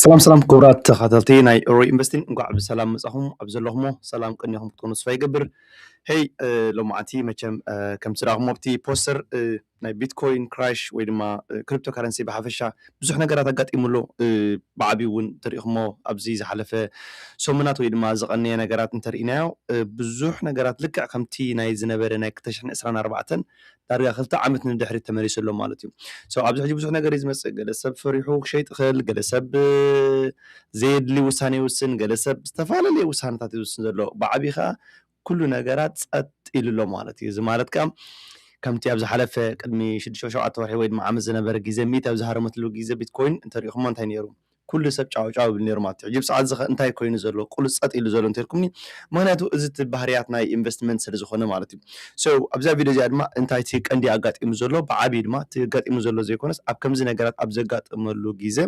ሰላም ሰላም ክቡራት ተኸታተልቲ ናይ ሮ ኢንቨስቲንግ እንኳዕ ብሰላም መፃኹም ኣብ ዘለኹሞ ሰላም ቅኒኹም ክትኮኑ ስፋ ይገብር ሄይ ሎማዓንቲ መቸም ከም ስራኹም ኣብቲ ፖስተር ናይ ቢትኮይን ክራሽ ወይ ድማ ክሪፕቶ ካረንሲ ብሓፈሻ ብዙሕ ነገራት ኣጋጢሙ ኣሎ ብዓብዩ እውን ተሪኢኹሞ ኣብዚ ዝሓለፈ ሰሙናት ወይ ድማ ዝቐነየ ነገራት እንተርኢናዮ ብዙሕ ነገራት ልክዕ ከምቲ ናይ ዝነበረ ናይ ክልተ ሽሕን ዕስራን ኣርባዕተን ዳርጋ ክልተ ዓመት ንድሕሪት ተመሊሱ ኣሎ ማለት እዩ so ኣብዚ ሕጂ ብዙሕ ነገር እዩ ዝመጽእ ገለ ሰብ ፈሪሑ ክሸይጥ ይኽእል ገለ ሰብ ዘየድሊ ውሳኔ ይውስን ገለ ሰብ ዝተፈላለየ ውሳነታት እዩ ዝውስን ዘሎ ብዓቢ ከኣ ኩሉ ነገራት ጸጥ ኢሉ ኣሎ ማለት እዩ እዚ ማለት ከኣ ከምቲ ኣብ ዝሓለፈ ቅድሚ ሽዱሽተ ሸውዓተ ወርሒ ወይ ድማ ዓመት ዝነበረ ግዜ ሚእቲ ኣብ ዝሃረመትሉ ግዜ ቢትኮይን እንተሪኢኹሞ እንታይ ነይሩ ኩሉ ሰብ ጫው ጫው ይብል ኔሩ ማለት እዩ ሕጂ ብሰዓት እዚኸ እንታይ ኮይኑ ዘሎ ቁሉፅ ፀጥ ኢሉ ዘሎ እንተልኩምኒ ምኽንያቱ እዚ እቲ ባህርያት ናይ ኢንቨስትመንት ስለዝኾነ ማለት እዩ so ኣብዛ ቪድዮ እዚኣ ድማ እንታይ እቲ ቀንዲ ኣጋጢሙ ዘሎ ብዓብዩ ድማ እቲ ኣጋጢሙ ዘሎ ዘይኮነስ ኣብ ከምዚ ነገራት ኣብ ዘጋጥመሉ ግዘ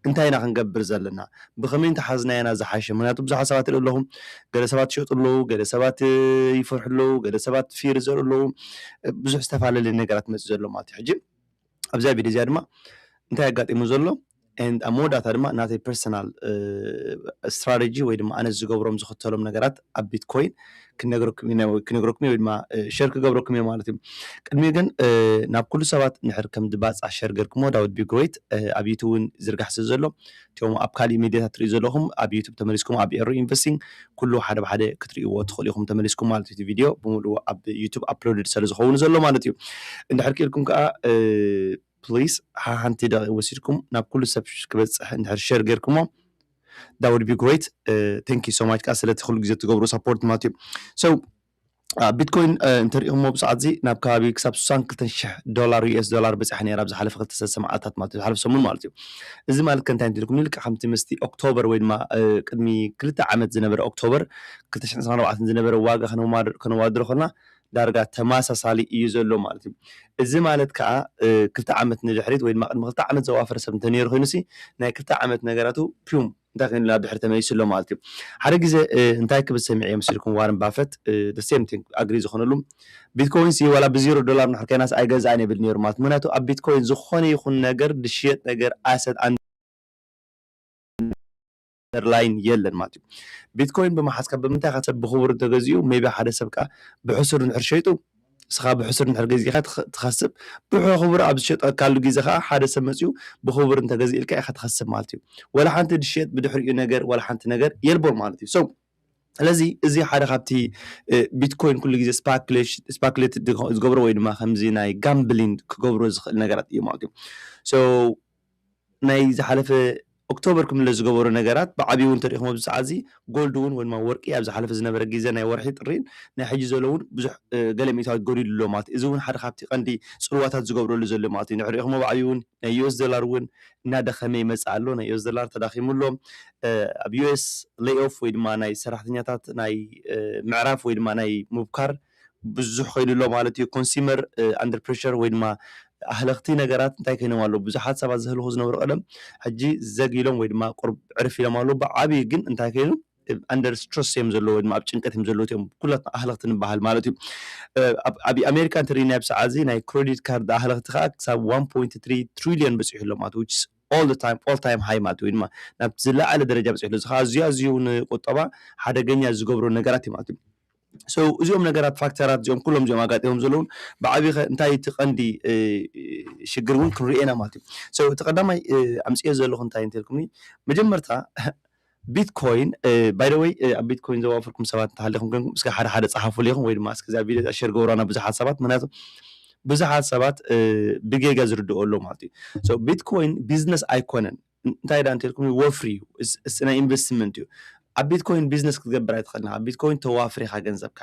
እንታይ ኢና ክንገብር ዘለና ብኸመይ እንተሓዝናዮ ኢና ዝሓሸ ምኽንያቱ ብዙሓት ሰባት ይሪኡ ኣለኹ ገለ ሰባት ይሸጡ ኣለዉ ገለ ሰባት ይፈርሑ ኣለዉ ገለ ሰባት ፊር ይዘርኡ ኣለዉ ብዙሕ ዝተፋላለየ ነገራት መፂኡ ዘሎ ማለት እዩ ሕጂ ኣብዛ ቪድዮ እዚኣ ድማ እንታይ ኣጋጢሙ ዘሎ and ኣብ መወዳእታ ድማ ናተይ ፐርሰናል ስትራቴጂ ወይ ድማ ኣነ ዝገብሮም ዝኽተሎም ነገራት ኣብ ቢትኮይን ክነግረኩም እዩ ናይ- ክነግረኩም እዩ ወይ ድማ ሸር ክገብረኩም እዩ ማለት እዩ ቅድሚ ግን እ፣ ናብ ኩሉ ሰባት ንሕር ከም ድባፃ ሸር ገርክሞ ዳዊት ቢግሮይት ኣብ ዩቱብ እውን ዝርጋሕ ስለ ዘሎ እቶም ኣብ ካሊእ ሚድያታት ትሪኡ ዘለኹም ኣብ ዩቱብ ተመሊስኩም ኣብ ኤሩ ኢንቨስቲንግ ኩሉ ሓደ ብሓደ ክትሪእዎ ትኽእሉ ኢኹም ተመሊስኩም ማለት እዩ እቲ ቪድዮ ብምሉኡ ኣብ ዩቱብ ኣፕሎድድ ስለ ዝኸውን ዘሎ ማለት እዩ እንድሕር ክኢልኩም ከዓ ፕሊስ ሓንቲ ደቂቅ ወሲድኩም ናብ ኩሉ ሰብ ክበፅሕ እንድሕር ሸር ጌርኩሞ ዳውድ ቢ ግሬት ቴንክ ዩ ሶ ማች ከዓ ስለቲ ኩሉ ግዜ ትገብሩ ሳፖርት ማለት እዩ ሶ ቢትኮይን እንተሪኢኹሞ ብሰዓት እዚ ናብ ከባቢ ክሳብ 62 ሽሕ ዶላር ዩኤስ ዶላር በፂሓ ነይራ ኣብ ዝሓለፈ ክልተ ሰለስተ መዓልታት ማለት እዩ ዝሓለፈ ሰሙን ማለት እዩ እዚ ማለት ከእንታይ እንትልኩም ልክዕ ከምቲ ምስቲ ኦክቶበር ወይ ድማ ቅድሚ ክልተ ዓመት ዝነበረ ኦክቶበር 224 ዝነበረ ዋጋ ከነዋድሮ ከለና ዳርጋ ተመሳሳሊ እዩ ዘሎ ማለት እዩ እዚ ማለት ከዓ ክልተ ዓመት ንድሕሪት ወይ ድማ ቅድሚ ክልተ ዓመት ዘዋፈረ ሰብ እንተነይሩ ኮይኑ ሲ ናይ ክልተ ዓመት ነገራቱ ፒዩም እንታይ ኮይኑ ናብ ድሕሪ ተመሊሱ ኣሎ ማለት እዩ። ሓደ ግዜ እንታይ ክብል ሰሚዐዮ መሲልኩም ዋረን ባፈት the same thing agree ዝኾነሉ ቢትኮይን ሲ ዋላ ብዜሮ ዶላር እንድሕር ኮይናስ ኣይገዝኣን የብል ኔሩ ማለት ምኽንያቱ ኣብ ቢትኮይን ዝኾነ ይኹን ነገር ዝሽየጥ ነገር ኣሰት ኣንደር ላይን የለን ማለት እዩ። ቢትኮይን ብምሓዝካ ብምንታይ ኢኻ ሰብ ብኽቡር እንተገዚኡ ሜይቢ ሓደ ሰብ ከኣ ብሕሱር እንድሕር ሸይጡ ንስኻ ብሕሱር እንድሕር ገዚእካ ትኸስብ ብሕኹብር ኣብ ዝሸጠካሉ ግዜ ከኣ ሓደ ሰብ መጺኡ ብኹቡር እንተ ገዚእልካ ኢኻ ትኸስብ ማለት እዩ ወላ ሓንቲ ድሽየጥ ብድሕሪኡ ነገር ወላ ሓንቲ ነገር የልቦን ማለት እዩ so ስለዚ እዚ ሓደ ካብቲ ቢትኮይን ኩሉ ግዜ ስፓክሌት ዝገብሮ ወይ ድማ ከምዚ ናይ ጋምብሊን ክገብሮ ዝኽእል ነገራት እዩ ማለት እዩ ናይ ዝሓለፈ ኦክቶበር ክምለስ ዝገበሮ ነገራት ብዓብዩ እውን ተሪእኹም ኣብዚ ሰዓት እዚ ጎልድ እውን ወይ ድማ ወርቂ ኣብ ዝሓለፈ ዝነበረ ግዘ ናይ ወርሒ ጥሪን ናይ ሕጂ ዘሎ እውን ብዙሕ ገለ ሚእታዊት ጎዲሉ ኣሎ ማለት እዩ እዚ እውን ሓደ ካብቲ ቀንዲ ፅልዋታት ዝገብረሉ ዘሎ ማለት እዩ ንሕና ሪእኹሞ ብዓብዩ እውን ናይ ዩኤስ ዶላር እውን እናደኸመ ይመፅእ ኣሎ ናይ ዩኤስ ዶላር ተዳኺሙ ኣሎ ኣብ ዩኤስ ሌይ ኦፍ ወይ ድማ ናይ ሰራሕተኛታት ናይ ምዕራፍ ወይ ድማ ናይ ምብካር ብዙሕ ከይዱ ኣሎ ማለት እዩ ኮንስመር ኣንደር ፕረሸር ወይ ድማ ኣህለኽቲ ነገራት እንታይ ኮይኖም ኣለዉ ብዙሓት ሰባት ዘህልኹ ዝነበሩ ቀደም ሕጂ ዘግ ኢሎም ወይ ድማ ቁርብ ዕርፍ ኢሎም ኣለዉ ብዓብዪ ግን እንታይ ኮይኑ ኣንደር ስትረስ እዮም ዘለዉ ወይ ድማ ኣብ ጭንቀት እዮም ዘለዉ እዮም ኩላትና ኣህለኽቲ ንበሃል ማለት እዩ ኣብ ኣሜሪካ እንተሪእናዮ ኣብ ሰዓት እዚ ናይ ክሬዲት ካርድ ኣህለኽቲ ከዓ ክሳብ 1.3 ትሪልዮን በፂሑ ኣሎ ማለት ዊች ኦል ዘ ታይም ኦል ታይም ሃይ ማለት ወይ ድማ ናብቲ ዝለዓለ ደረጃ በፂሑ ኣሎ እዚ ከዓ ኣዝዩ ኣዝዩ ንቁጠባ ሓደገኛ ዝገብሮ ነገራት እዩ ማለት እዩ So እዚኦም ነገራት ፋክተራት እዚኦም ኩሎም እዚኦም ኣጋጢሞም ዘለውን ብዓብይኸ እንታይ እቲ ቀንዲ ሽግር እውን ክንሪኦ ኢና ማለት እዩ So እቲ ቀዳማይ ኣምፅኦ ዘለኹ እንታይ እንተልኩምኒ መጀመርታ ቢትኮይን ባይ ዘ ወይ ኣብ ቢትኮይን ዘዋፈርኩም ሰባት እንተሃሊኹም ኮንኩም እስከ ሓደ ሓደ ፀሓፉሉ ኢኹም ወይ ድማ እስከ እዛ ቪድዮ እዚኣ ሸር ገብሩዋ ናብ ብዙሓት ሰባት ምክንያቱ ብዙሓት ሰባት ብጌጋ ዝርድኦ ኣሎ ማለት እዩ So ቢትኮይን ቢዝነስ ኣይኮነን እንታይ ድኣ እንተልኩም እዩ ወፍሪ እዩ እስ ናይ ኢንቨስትመንት እዩ ኣብ ቢትኮይን ቢዝነስ ክትገብር ኣይትኽእልን ኣብ ቢትኮይን ተዋፍር ኢኻ ገንዘብካ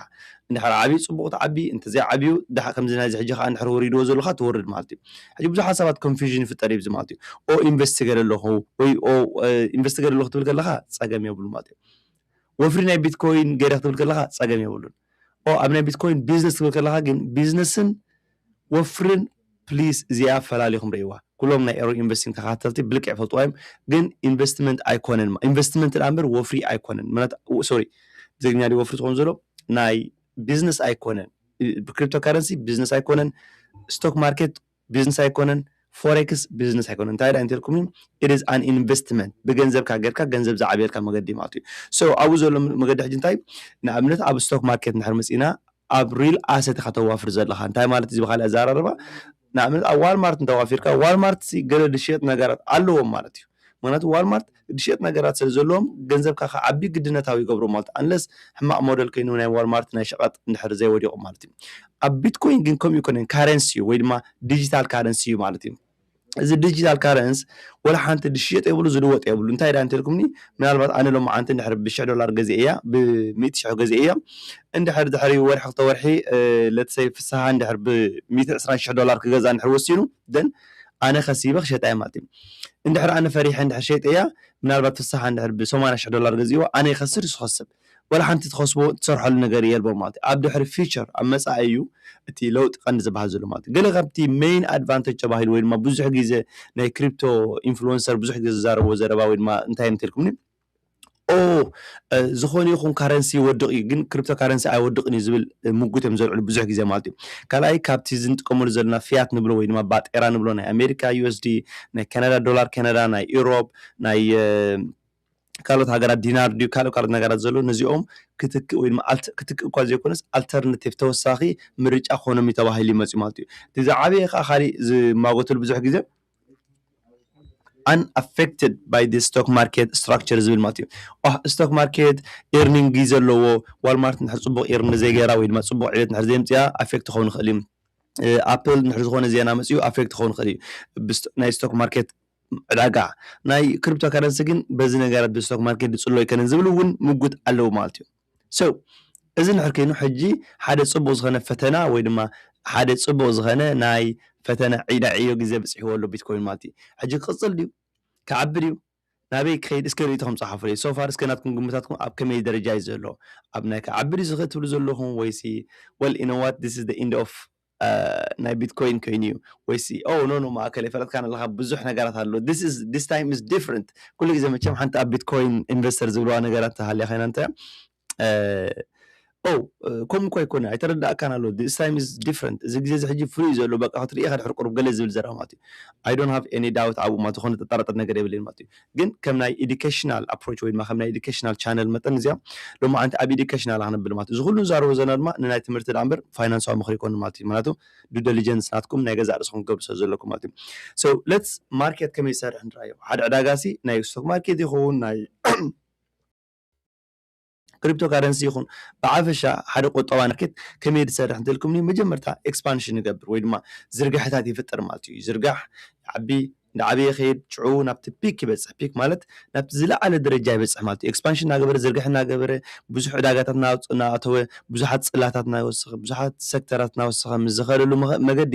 እንድሕር ዓብዩ ጽቡቕ ትዓቢ እንተዘይ ዓብዩ ድሓ ከምዚ ናይዚ ሕጂ ከዓ እንድሕር ወሪድዎ ዘለካ ትወርድ ማለት እዩ ሕጂ ብዙሓት ሰባት ኮንፊዥን ይፍጠር እዩ ማለት እዩ ኦ ኢንቨስት ትገለ ኣለኹ ወይ ኦ ኢንቨስት ትገለ ኣለኹ ትብል ከለካ ጸገም የብሉ ማለት እዩ ወፍሪ ናይ ቢትኮይን ገይረ ክትብል ከለካ ጸገም የብሉን ኦ ኣብ ናይ ቢትኮይን ቢዝነስ ትብል ከለካ ግን ቢዝነስን ወፍርን ፕሊስ እዚኣ ፈላሊኹም ርእይዋ ኩሎም ናይ ኤሮ ኢንቨስቲንግ ተኸታተልቲ ብልክዕ ይፈልጥዋ እዮም ግን ኢንቨስትመንት ኣይኮነን ኢንቨስትመንት ደኣ እምበር ወፍሪ ኣይኮነን ምክንያቱ ሶሪ ብትግርኛ ድዩ ወፍሪ ዝኸውን ዘሎ ናይ ቢዝነስ ኣይኮነን ክሪፕቶ ካረንሲ ቢዝነስ ኣይኮነን ስቶክ ማርኬት ቢዝነስ ኣይኮነን ፎሬክስ ቢዝነስ ኣይኮነን እንታይ ደኣ እንተልኩም ኢት ኢዝ ኣን ኢንቨስትመንት ብገንዘብካ ጌርካ ገንዘብ ዝዓብየልካ መገዲ ማለት እዩ ሶ ኣብኡ ዘሎ መገዲ ሕጂ እንታይ ንኣብነት ኣብ ስቶክ ማርኬት እንድሕር መፂእና ኣብ ሪል ኣሰት ኢኻ ተዋፍር ዘለኻ እንታይ ማለት እዚ ብኻሊእ ኣዛራርባ ንኣብነት ኣብ ዋልማርት እንተዋፊርካ ዋልማርትሲ ገለ ድሽየጥ ነገራት ኣለዎም ማለት እዩ ምክንያቱ ዋልማርት ድሽየጥ ነገራት ስለ ዘለዎም ገንዘብካ ክዓቢ ግድነታዊ ይገብሮ ማለት ኣንለስ ሕማቕ ሞደል ከይኑ ናይ ዋልማርት ናይ ሸቐጥ እንድሕር ዘይወዲቑ ማለት እዩ ኣብ ቢትኮይን ግን ከምኡ ኣይኮነን ካረንሲ እዩ ወይ ድማ ዲጂታል ካረንሲ እዩ ማለት እዩ እዚ ዲጂታል ካረንስ ወላ ሓንቲ ዝሽየጥ የብሉ ዝልወጥ የብሉ እንታይ ዳ እንተልኩምኒ ምናልባት ኣነ ሎማዓንቲ እንድሕር ብሽሕ ዶላር ገዚኤያ ብሚእቲ ሽሕ ገዚኤያ እንድሕር ድሕሪ ወርሒ ክልተ ወርሒ ለትሰይ ፍስሃ እንድሕር ብሚእቲ ዕስራን ሽሕ ዶላር ክገዛ እንድሕር ወሲኑ ደን ኣነ ከሲበ ክሸጣ እየ ማለት እዩ እንድሕር ኣነ ፈሪሐ እንድሕር ሸይጠያ ምናልባት ፍስሃ እንድሕር ብሰማንያ ሽሕ ዶላር ገዚእዎ ኣነ ይኸስር ንሱ ይኸስብ ዋላ ሓንቲ ትኸስቦ ትሰርሐሉ ነገር የልቦን ማለት እዩ። ኣብ ድሕሪ ፊቸር ኣብ መጻኢ እዩ እቲ ለውጢ ቀንዲ ዝበሃል ዘሎ ማለት እዩ። ገለ ካብቲ መይን ኣድቫንተጅ ተባሂሉ ወይ ድማ ብዙሕ ግዜ ናይ ክሪፕቶ ኢንፍሉወንሰር ብዙሕ ግዜ ዝዛረብዎ ዘረባ ወይ ድማ እንታይ እንተልኩምኒ ኦው ዝኾነ ይኹን ካረንሲ ይወድቕ እዩ ግን ክሪፕቶ ካረንሲ ኣይወድቕን እዩ ዝብል ምጉት እዮም ዘልዕሉ ብዙሕ ግዜ ማለት እዩ። ካልኣይ ካብቲ እዚ ንጥቀመሉ ዘለና ፊያት ንብሎ ወይ ድማ ባጤራ ንብሎ ናይ ኣሜሪካ ዩኤስዲ ናይ ካናዳ ዶላር ካናዳ ናይ ኢሮብ ናይ ካልኦት ሃገራት ዲናር ድዩ ካልእ ካልኦት ነገራት ዘሎ ነዚኦም ክትክእ ወይ ድማ ክትክእ እኳ ዘይኮነስ ኣልተርናቲቭ ተወሳኺ ምርጫ ክኾኖም እዩ ተባሂሉ ይመፅኡ ማለት እዩ እቲ ዝዓበየ ከዓ ካሊእ ዝማጎተሉ ብዙሕ ግዜ ኣንኣፌክትድ ባይ ዲ ስቶክ ማርኬት ስትራክቸር ዝብል ማለት እዩ ስቶክ ማርኬት ኤርኒንግ ዘለዎ ዋልማርት ንድሕር ፅቡቅ ኤርኒ ዘይገይራ ወይ ድማ ፅቡቅ ዕቤት ንድሕር ዘይምፅያ ኣፌክት ክኸውን ይኽእል እዩ ኣፕል ንድሕር ዝኾነ ዜና መፅኡ ኣፌክት ክኸውን ይኽእል እዩ ናይ ስቶክ ማርኬት ዕዳጋ ናይ ክሪፕቶ ካረንሲ ግን በዚ ነገራት ብስቶክ ማርኬት ዝጽሎ ኣይከነን ዝብል ውን ምጉት ኣለዎ ማለት እዩ so እዚ እንድሕር ከይኑ ሕጂ ሓደ ጽቡቅ ዝከነ ፈተና ወይ ድማ ሓደ ጽቡቅ ዝከነ ናይ ፈተነ ዕይዳ ዕዮ ግዜ ብጽሕዎ ኣሎ ቢትኮይን ማለት እዩ ሕጂ ክቅጽል ድዩ ክዓቢ ድዩ ናበይ ክከይድ እስከ ርእይቶኩም ጸሓፉለይ so far እስከ ናትኩም ግምታትኩም ኣብ ከመይ ደረጃ እዩ ዘሎ ኣብ ናይ ክዓቢ ድዩ ዝከ ትብሉ ዘለኩም ወይሲ well you know what this is the end of ናይ ቢትኮይን ከይኑ ዩ ወይሲ ኦው ኖኖ ማእከል የፈለጥካን ኣለኻ ብዙሕ ነገራት ኣሎ ዲስ ኢዝ ዲስ ታይም ኢዝ ዲፍረንት ኩሉ ግዜ መቸም ሓንቲ ኣብ ቢትኮይን ኢንቨስተር ዝብልዋ ነገራት ተሃልያ ኮይና እንታይ ኦው ከምኡ እኮ ኣይኮነ ኣይተረዳእካን ኣሎ ዲስ ታይም ኢዝ ዲፍረንት እዚ ግዜ እዚ ሕጂ ፍሉይ ዩ ዘሎ በቃ ክትርእኻ ድሕሪ ቁሩብ ገለ ዝብል ዘረባ ማለት ዩ ኣይ ዶንት ሃቭ ኤኒ ዳውት ኣብኡ ማለት ዩ ዝኾነ ዘጠራጥር ነገር የብለይን ማለት ዩ ግን ከም ናይ ኤዱኬሽናል ኣፕሮች ወይ ድማ ከም ናይ ኤዱኬሽናል ቻነል መጠን እዚኣ ሎማዓንቲ ኣብ ኤዱኬሽናል እያ ክነብል ማለት እዩ። እዚ ኩሉ ንዛረቦ ዘለና ድማ ንናይ ትምህርቲ ደኣ እምበር ፋይናንሳዊ ምኽሪ ኣይኮነን ማለት እዩ። ምኽንያቱ ዱ ደሊጀንስ ናትኩም ናይ ገዛእ ርእስኹም ክትገብሩ ስለ ዘለኩም ማለት እዩ። So let's ማርኬት ከመይ ዝሰርሕ ንርኣዮ። ሓደ ዕዳጋሲ ናይ ስቶክ ማርኬት ይኹን ናይ ክሪፕቶ ካረንሲ ይኹን ብዓፈሻ ሓደ ቁጠባ ማርኬት ከመይ እዩ ዝሰርሕ እንተልኩምኒ መጀመርታ ኤክስፓንሽን ይገብር ወይ ድማ ዝርጋሐታት ይፍጠር ማለት እዩ ይዝርጋሕ ይዓቢ እንዳዓበየ ይኸይድ ሽዑ ናብቲ ፒክ ይበጽሕ ፒክ ማለት ናብቲ ዝለዓለ ደረጃ ይበጽሕ ማለት እዩ ኤክስፓንሽን እናገበረ ዝርግሐ እናገበረ ብዙሕ ዕዳጋታት እናኣተወ ብዙሓት ጽላታት እናወሰኸ ብዙሓት ሰክተራት እናወሰኸ ምስ ዝኸደሉ መገዲ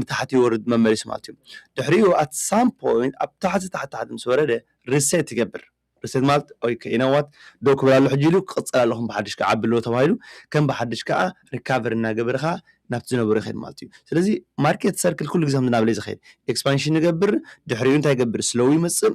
ንታሕቲ ይወርድ መመሊሱ ማለት እዩ ድሕሪኡ at some point ኣብ ታሕቲ ታሕቲ ታሕቲ ምስ ወረደ reset ይገብር reset ማለት ኦይ you know what ደው ክብል ኣሎ ሕጂ ኢሉ ክቅጽል ኣለዎ ከም ብሓድሽ ክዓቢ ኣለዎ ተባሂሉ ከም ብሓድሽ ከኣ recovery እናገበረ ከኣ ናብቲ ዝነበሮ ይኸይድ ማለት እዩ ስለዚ market circle ኩሉ ግዜ ከምዚ እናበለ እዩ ዝኸይድ expansion ይገብር ድሕሪኡ እንታይ ይገብር slow ይመጽእ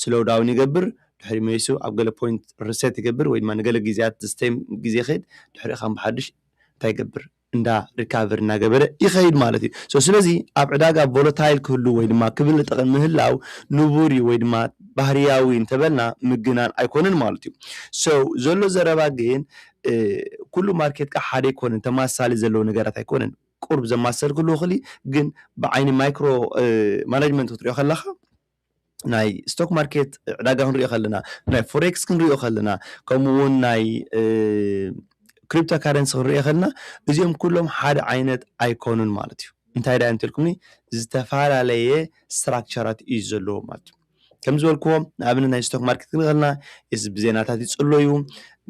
ስሎው ዳውን ይገብር ድሕሪኡ መሊሱ ኣብ ገለ ፖይንት ርሰት ይገብር ወይ ድማ ንገለ ግዝያት ዝስተይም ግዜ ይኸይድ ድሕሪኡ ካም ብሓዱሽ እንታይ ይገብር እንዳ ሪካቨር እናገበረ ይኸይድ ማለት እዩ ሶ ስለዚ ኣብ ዕዳጋ ቮለታይል ክህሉ ወይ ድማ ክብል ጠቕን ምህላው ንቡር እዩ ወይ ድማ ባህርያዊ እንተበልና ምግናን ኣይኮነን ማለት እዩ ሶ ዘሎ ዘረባ ግን ኩሉ ማርኬት ከኣ ሓደ ኣይኮነን ተማሳሊ ዘለዎ ነገራት ኣይኮነን ቁርብ ዘማሰል ክህልዎ ይኽእል እዩ ግን ብዓይኒ ማይክሮ ማናጅመንት ክትሪኦ ከለኻ ናይ ስቶክ ማርኬት ዕዳጋ ክንሪኦ ከለና ናይ ፎሬክስ ክንሪኦ ከለና ከምኡ እውን ናይ ክሪፕቶ ካረንሲ ክንሪኦ ከለና እዚኦም ኩሎም ሓደ ዓይነት ኣይኮኑን ማለት እዩ እንታይ ዳያ እንተልኩምኒ ዝተፈላለየ ስትራክቸራት እዩ ዘለዎ ማለት እዩ ከም ዝበልክዎ ንኣብነት ናይ ስቶክ ማርኬት ክንርኢ ከለና ብዜናታት ይፅለዩ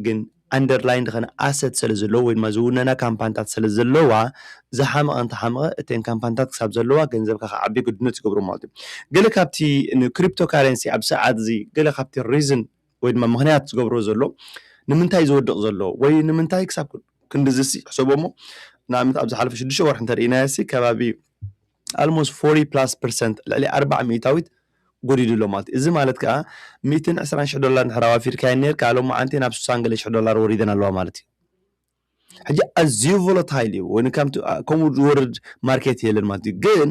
ግን ኣንደርላይን ድኸነ ኣሰት ሰለ ዘለዎ ወይ ድማ ዝውነና ካምፓንታት ሰለ ዘለዋ ዝሓመቐ እንተ ሓመቐ እተን ካምፓንታት ክሳብ ዘለዋ ገንዘብካ ክዓቢ ግድኖት ይገብሮ ማለት እዩ ገለ ካብቲ ንክሪፕቶ ካረንሲ ኣብዚ ሰዓት እዚ ገለ ካብቲ ሪዝን ወይ ድማ ምኽንያት ዝገብሮ ዘሎ ንምንታይ ዝወድቕ ዘሎ ወይ ንምንታይ ክሳብ ክንድዝሲ ሕሰቦ እሞ ንኣብነት ኣብ ዝሓለፈ ሽዱሽተ ወርሒ እንተ ርኢናዮሲ ከባቢ ኣልሞስት ፎርቲ ፕላስ ፐርሰንት፣ ልዕሊ ኣርብዓ ሚእታዊት፣ ጎዲሉ ኣሎ ማለት እዩ። እዚ ማለት ከኣ ሚእትን ዕስራን ሽሕ ዶላር እንድሕር ኣዋፊርካየን ኔርካ ሎምዓንቲ ናብ ስሳን ገለ ሽሕ ዶላር ወሪደን ኣለዋ ማለት እዩ። ሕጂ ኣዝዩ ቮለታይል እዩ ወይ ከምቲ ከምኡ ዝወርድ ማርኬት የለን ማለት እዩ። ግን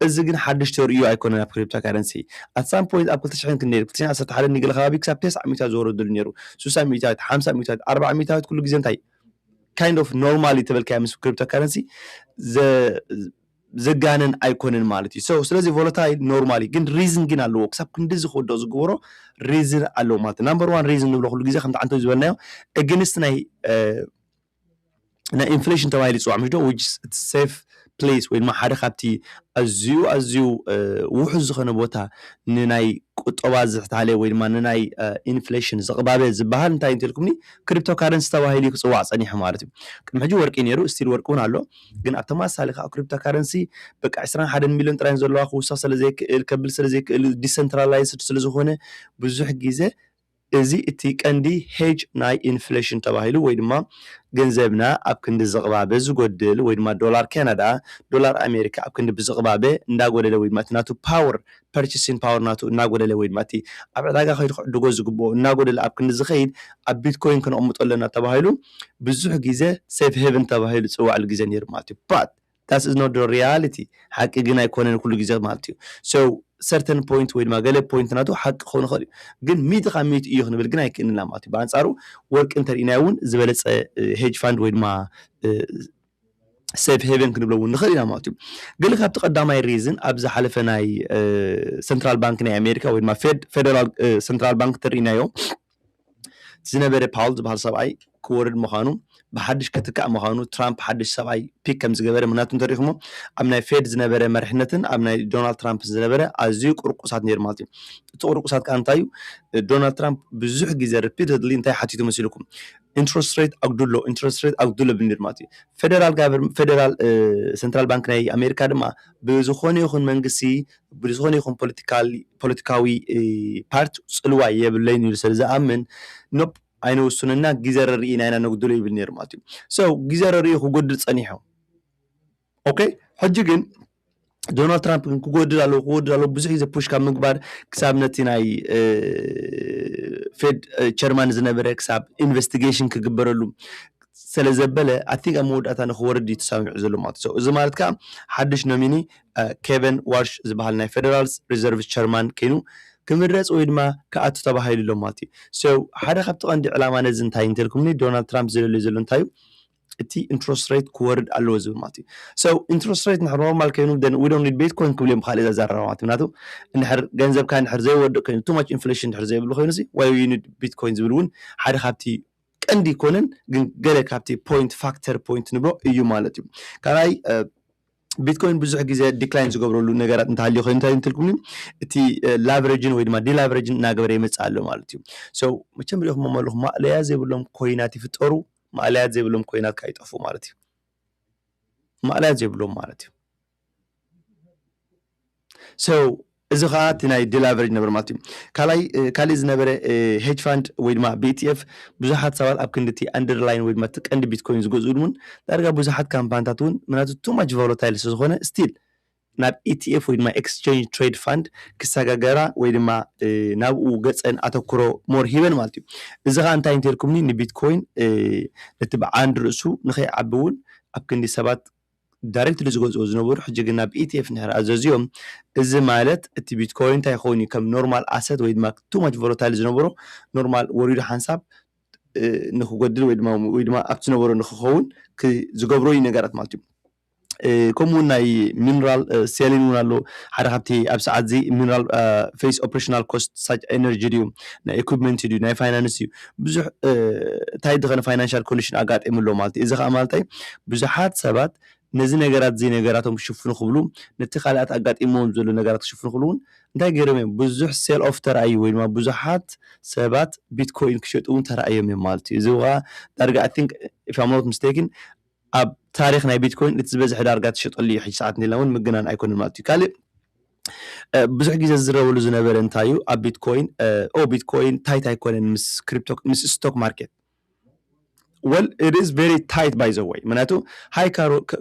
እዚ ግን ሓድሽ ተርእዮ ኣይኮነን ኣብ ክሪፕቶ ካረንሲ ኣት ሳም ፖይንት ኣብ ክልተ ሽሕን ክንደይ ክልተ ሽሕን ዓሰርተ ሓደን ገለ ከባቢ ክሳብ ተስዓ ሚእታዊት ዝወረደሉ ነይሩ። ስሳ ሚእታዊት፣ ሓምሳ ሚእታዊት፣ ኣርብዓ ሚእታዊት ኩሉ ግዜ እንታይ ካይንድ ኦፍ ኖርማል ተበልካዮ ምስ ክሪፕቶ ካረንሲ ዘጋነን ኣይኮነን ማለት እዩ ሰው ስለዚ ቮለታይል ኖርማል እዩ ግን ሪዝን ግን ኣለዎ ክሳብ ክንዲዚ ክወድቕ ዝግበሮ ሪዝን ኣለዎ ማለት እዩ ናምበር ዋን ሪዝን ንብሎ ኩሉ ግዜ ከምቲ ዓንተ ዝበልናዮ እግንስት ናይ ናይ ኢንፍሌሽን ተባሂሉ ይፅዋዕ ምሽ ዶ ዊች ሴፍ ፕሌስ ወይ ድማ ሓደ ካብቲ ኣዝዩ ኣዝዩ ውሑስ ዝኾነ ቦታ ንናይ ቁጠባ ዝሕታለ ወይ ድማ ንናይ ኢንፍሌሽን ዝቕባበ ዝበሃል እንታይ እዩ እንተልኩምኒ ክሪፕቶ ካረንሲ ተባሂሉ እዩ ክጽዋዕ ጸኒሑ ማለት እዩ። ቅድሚ ሕጂ ወርቂ እዩ ነይሩ ስቲል ወርቂ እውን ኣሎ ግን ኣብ ተመሳሳሊ ከኣ ክሪፕቶ ካረንሲ በቃ ዕስራን ሓደን ሚልዮን ጥራይ ዘለዋ ክውስኽ ስለዘይክእል ከብል ስለዘይክእል ዲሰንትራላይዝድ ስለዝኾነ ብዙሕ ግዜ እዚ እቲ ቀንዲ ሄጅ ናይ ኢንፍሌሽን ተባሂሉ ወይ ድማ ገንዘብና ኣብ ክንዲ ዝቕባበ ዝጎድል ወይ ድማ ዶላር ካናዳ ዶላር ኣሜሪካ ኣብ ክንዲ ብዝቕባበ እንዳጎደለ ወይ ድማ እቲ ናቱ ፓወር ፐርቸሲን ፓወር ናቱ እናጎደለ ወይ ድማ እቲ ኣብ ዕዳጋ ከይዱ ክዕድጎ ዝግብኦ እናጎደለ ኣብ ክንዲ ዝኸይድ ኣብ ቢትኮይን ክነቕምጦ ኣለና ተባሂሉ ብዙሕ ግዜ ሴፍ ሄቭን ተባሂሉ ዝፅዋዕሉ ግዜ ነይሩ ማለት እዩ but That is not the reality ሓቂ ግን ኣይኮነን ኩሉ ግዜ ማለት እዩ so certain point ወይ ድማ ገለ point ናቱ ሓቂ ክኸውን ይኽእል እዩ ግን ሚእቲ ካብ ሚእቲ እዩ ክንብል ግን ኣይክእልን ኢና ማለት እዩ ብኣንጻሩ ወርቂ እንተርኢናዮ እውን ዝበለጸ ሄጅ ፋንድ ወይ ድማ ሴፍ ሄቨን ክንብሎ እውን ንኽእል ኢና ማለት እዩ ገለ ካብቲ ቀዳማይ ሪዝን ኣብ ዝሓለፈ ናይ ሰንትራል ባንክ ናይ ኣሜሪካ ወይ ድማ ፌድ ፌደራል ሰንትራል ባንክ ተርኢናዮ እቲ ዝነበረ ፓውል ዝበሃል ሰብኣይ ክወርድ ምዃኑ ብሓድሽ ክትካእ ምዃኑ ትራምፕ ሓድሽ ሰብኣይ ፒክ ከም ዝገበረ ምኽንያቱ እንተሪኢኹሞ ኣብ ናይ ፌድ ዝነበረ መሪሕነትን ኣብ ናይ ዶናልድ ትራምፕ ዝነበረ ኣዝዩ ቁርቁሳት ነይሩ ማለት እዩ እቲ ቁርቁሳት ከዓ እንታይ እዩ ዶናልድ ትራምፕ ብዙሕ ግዜ ሪፒተድሊ እንታይ ሓቲቱ መሲልኩም ኢንትረስት ሬት ኣጉድሎ ኢንትረስት ሬት ኣጉድሎ ብንር ማለት እዩ ፌደራል ጋቨር ፌደራል ሰንትራል ባንክ ናይ ኣሜሪካ ድማ ብዝኾነ ይኹን መንግስቲ ብዝኾነ ይኹን ፖለቲካዊ ፓርቲ ፅልዋ የብለይን ኢሉ ስለ ዝኣምን ኖፕ ኣይነውስኖ እና ግዜ ረርኢና ኢና ነጉድሎ ይብል ነይሩ ማለት እዩ። ሶ ግዜ ረርኡ ክጎድል ፀኒሑ ኦኬ ሕጂ ግን ዶናልድ ትራምፕ ግን ክጎድል ኣለዎ ክጎድል ኣለዎ ብዙሕ ግዜ ፑሽ ካብ ምግባር ክሳብ ነቲ ናይ ፌድ ቸርማን ዝነበረ ክሳብ ኢንቨስቲጌሽን ክግበረሉ ሰለ ዘበለ ኣይ ቲንክ ኣብ መወዳእታ ንክወርድ እዩ ተሳሚዑ ዘሎ ማለት እዩ ሰው እዚ ማለት ከኣ ሓድሽ ኖሚኒ ኬቨን ዋርሽ ዝበሃል ናይ ፌደራልስ ሪዘርቭስ ቸርማን ከይኑ ክምረጽ ወይ ድማ ክኣቱ ተባሂሉ ኣሎ ማለት እዩ ሰው ሓደ ካብቲ ቀንዲ ዕላማ ነዚ እንታይ እንተልኩምኒ ዶናልድ ትራምፕ ዝደልዮ ዘሎ እንታይ እዩ እቲ ኢንትረስት ሬት ክወርድ ኣለዎ ዝብል ማለት እዩ ሰው ኢንትረስት ሬት ንሕር ኖርማል ከይኑ ደን ዊ ዶንት ኒድ ቤትኮይን ክብሉ እዮም ብካልእ ዘዛረባ ማለት እዩ ምክንያቱ እንድሕር ገንዘብካ እንድሕር ዘይወድቕ ኮይኑ ቱ ማች ኢንፍሌሽን እንድሕር ዘይብሉ ኮይኑ ሲ ዋይ ዩ ኒድ ቢትኮይን ዝብል እውን ሓደ ካብቲ ቀንዲ ኣይኮነን ግን ገለ ካብቲ ፖይንት ፋክተር ፖይንት ንብሎ እዩ ማለት እዩ ካልኣይ ቢትኮይን ብዙሕ ግዜ ዲክላይን ዝገብረሉ ነገራት እንተሃልዩ ኮይኑ እንታይ እንትልኩኒ እቲ ላቨሬጅን ወይ ድማ ዲላቨሬጅን እናገበረ ይመፅእ ኣሎ ማለት እዩ ሶ መቸም ሪኢኹሞ መለኹ ማእለያ ዘይብሎም ኮይናት ይፍጠሩ ማእለያት ዘይብሎም ኮይናት ከዓ ይጠፍኡ ማለት እዩ ማእለያት ዘይብሎም ማለት እዩ So እዚ ከዓ እቲ ናይ ዲላቨሬጅ ነበር ማለት እዩ ካልኣይ ካሊእ ዝነበረ ሄጅ ፋንድ ወይ ድማ ብኢቲኤፍ ብዙሓት ሰባት ኣብ ክንዲ እቲ ኣንደርላይን ወይ ድማ እቲ ቀንዲ ቢትኮይን ዝገዝኡ እውን ዳርጋ ብዙሓት ካምፓኒታት እውን ምክንያቱ ቱ ማች ቮሎታይል ስለዝኾነ ስቲል ናብ ኢቲኤፍ ወይ ድማ ኤክስቸንጅ ትሬድ ፋንድ ክሰጋገራ ወይ ድማ ናብኡ ገፀን ኣተኩሮ ሞር ሂበን ማለት እዩ እዚ ከዓ እንታይ እንተልኩምኒ ንቢትኮይን ነቲ ብዓንድ ርእሱ ንከይዓቢ እውን ኣብ ክንዲ ሰባት ዳረክትሊ ዝገዝእዎ ዝነበሩ ሕጂ ግን ናብ ETF እንድሕር ኣዘዝዮም እዚ ማለት እቲ ቢትኮይን እንታይ ክኸውን እዩ ከም ኖርማል ኣሰት ወይ ድማ ቱ ማች ቮለታይል ዝነበሮ ኖርማል ወሪዱ ሓንሳብ ንክጎድል ወይ ድማ ወይ ድማ ኣብቲ ዝነበሮ ንክኸውን ዝገብሮ እዩ ነገራት ማለት እዩ ከምኡ እውን ናይ ሚነራል ሴሊን እውን ኣሎ ሓደ ካብቲ ኣብ ሰዓት እዚ ሚነራል ፌስ ኦፕሬሽናል ኮስት ሳች ኤነርጂ ድዩ ናይ ኢኩፕመንት ድዩ ናይ ፋይናንስ እዩ ብዙሕ እንታይ ድኸነ ፋይናንሻል ኮንዲሽን ኣጋጢሙ ኣሎ ማለት እዩ። እዚ ከዓ ማለት እንታይ ብዙሓት ሰባት ነዚ ነገራት እዚ ነገራቶም ክሽፍኑ ክብሉ ነቲ ካልኣት ኣጋጢሞም ዘሎ ነገራት ክሽፍኑ ክብሉ እውን እንታይ ገይሮም እዮም ብዙሕ ሴል ኦፍ ተራእዩ ወይ ድማ ብዙሓት ሰባት ቢትኮይን ክሸጡ እውን ተራእዮም እዮም ማለት እዩ። እዚ ከዓ ዳርጋ ኣይ ቲንክ ኢፍ ኣም ኖት ሚስቴክን ኣብ ታሪኽ ናይ ቢትኮይን እቲ ዝበዝሐ ዳርጋ ትሸጠሉ እዩ ሕጂ ሰዓት እንዲልና ውን ምግናን ኣይኮነን ማለት እዩ ካልእ ብዙሕ ግዜ ዝዝረበሉ ዝነበረ እንታይ እዩ ኣብ ቢትኮይን ኦ ቢትኮይን ታይት ኣይኮነን ምስ ክሪፕቶ ምስ ስቶክ ማርኬት ወል ኢት ኢዝ ቨሪ ታይት ባይ ዘ ወይ ምክንያቱ ሃይ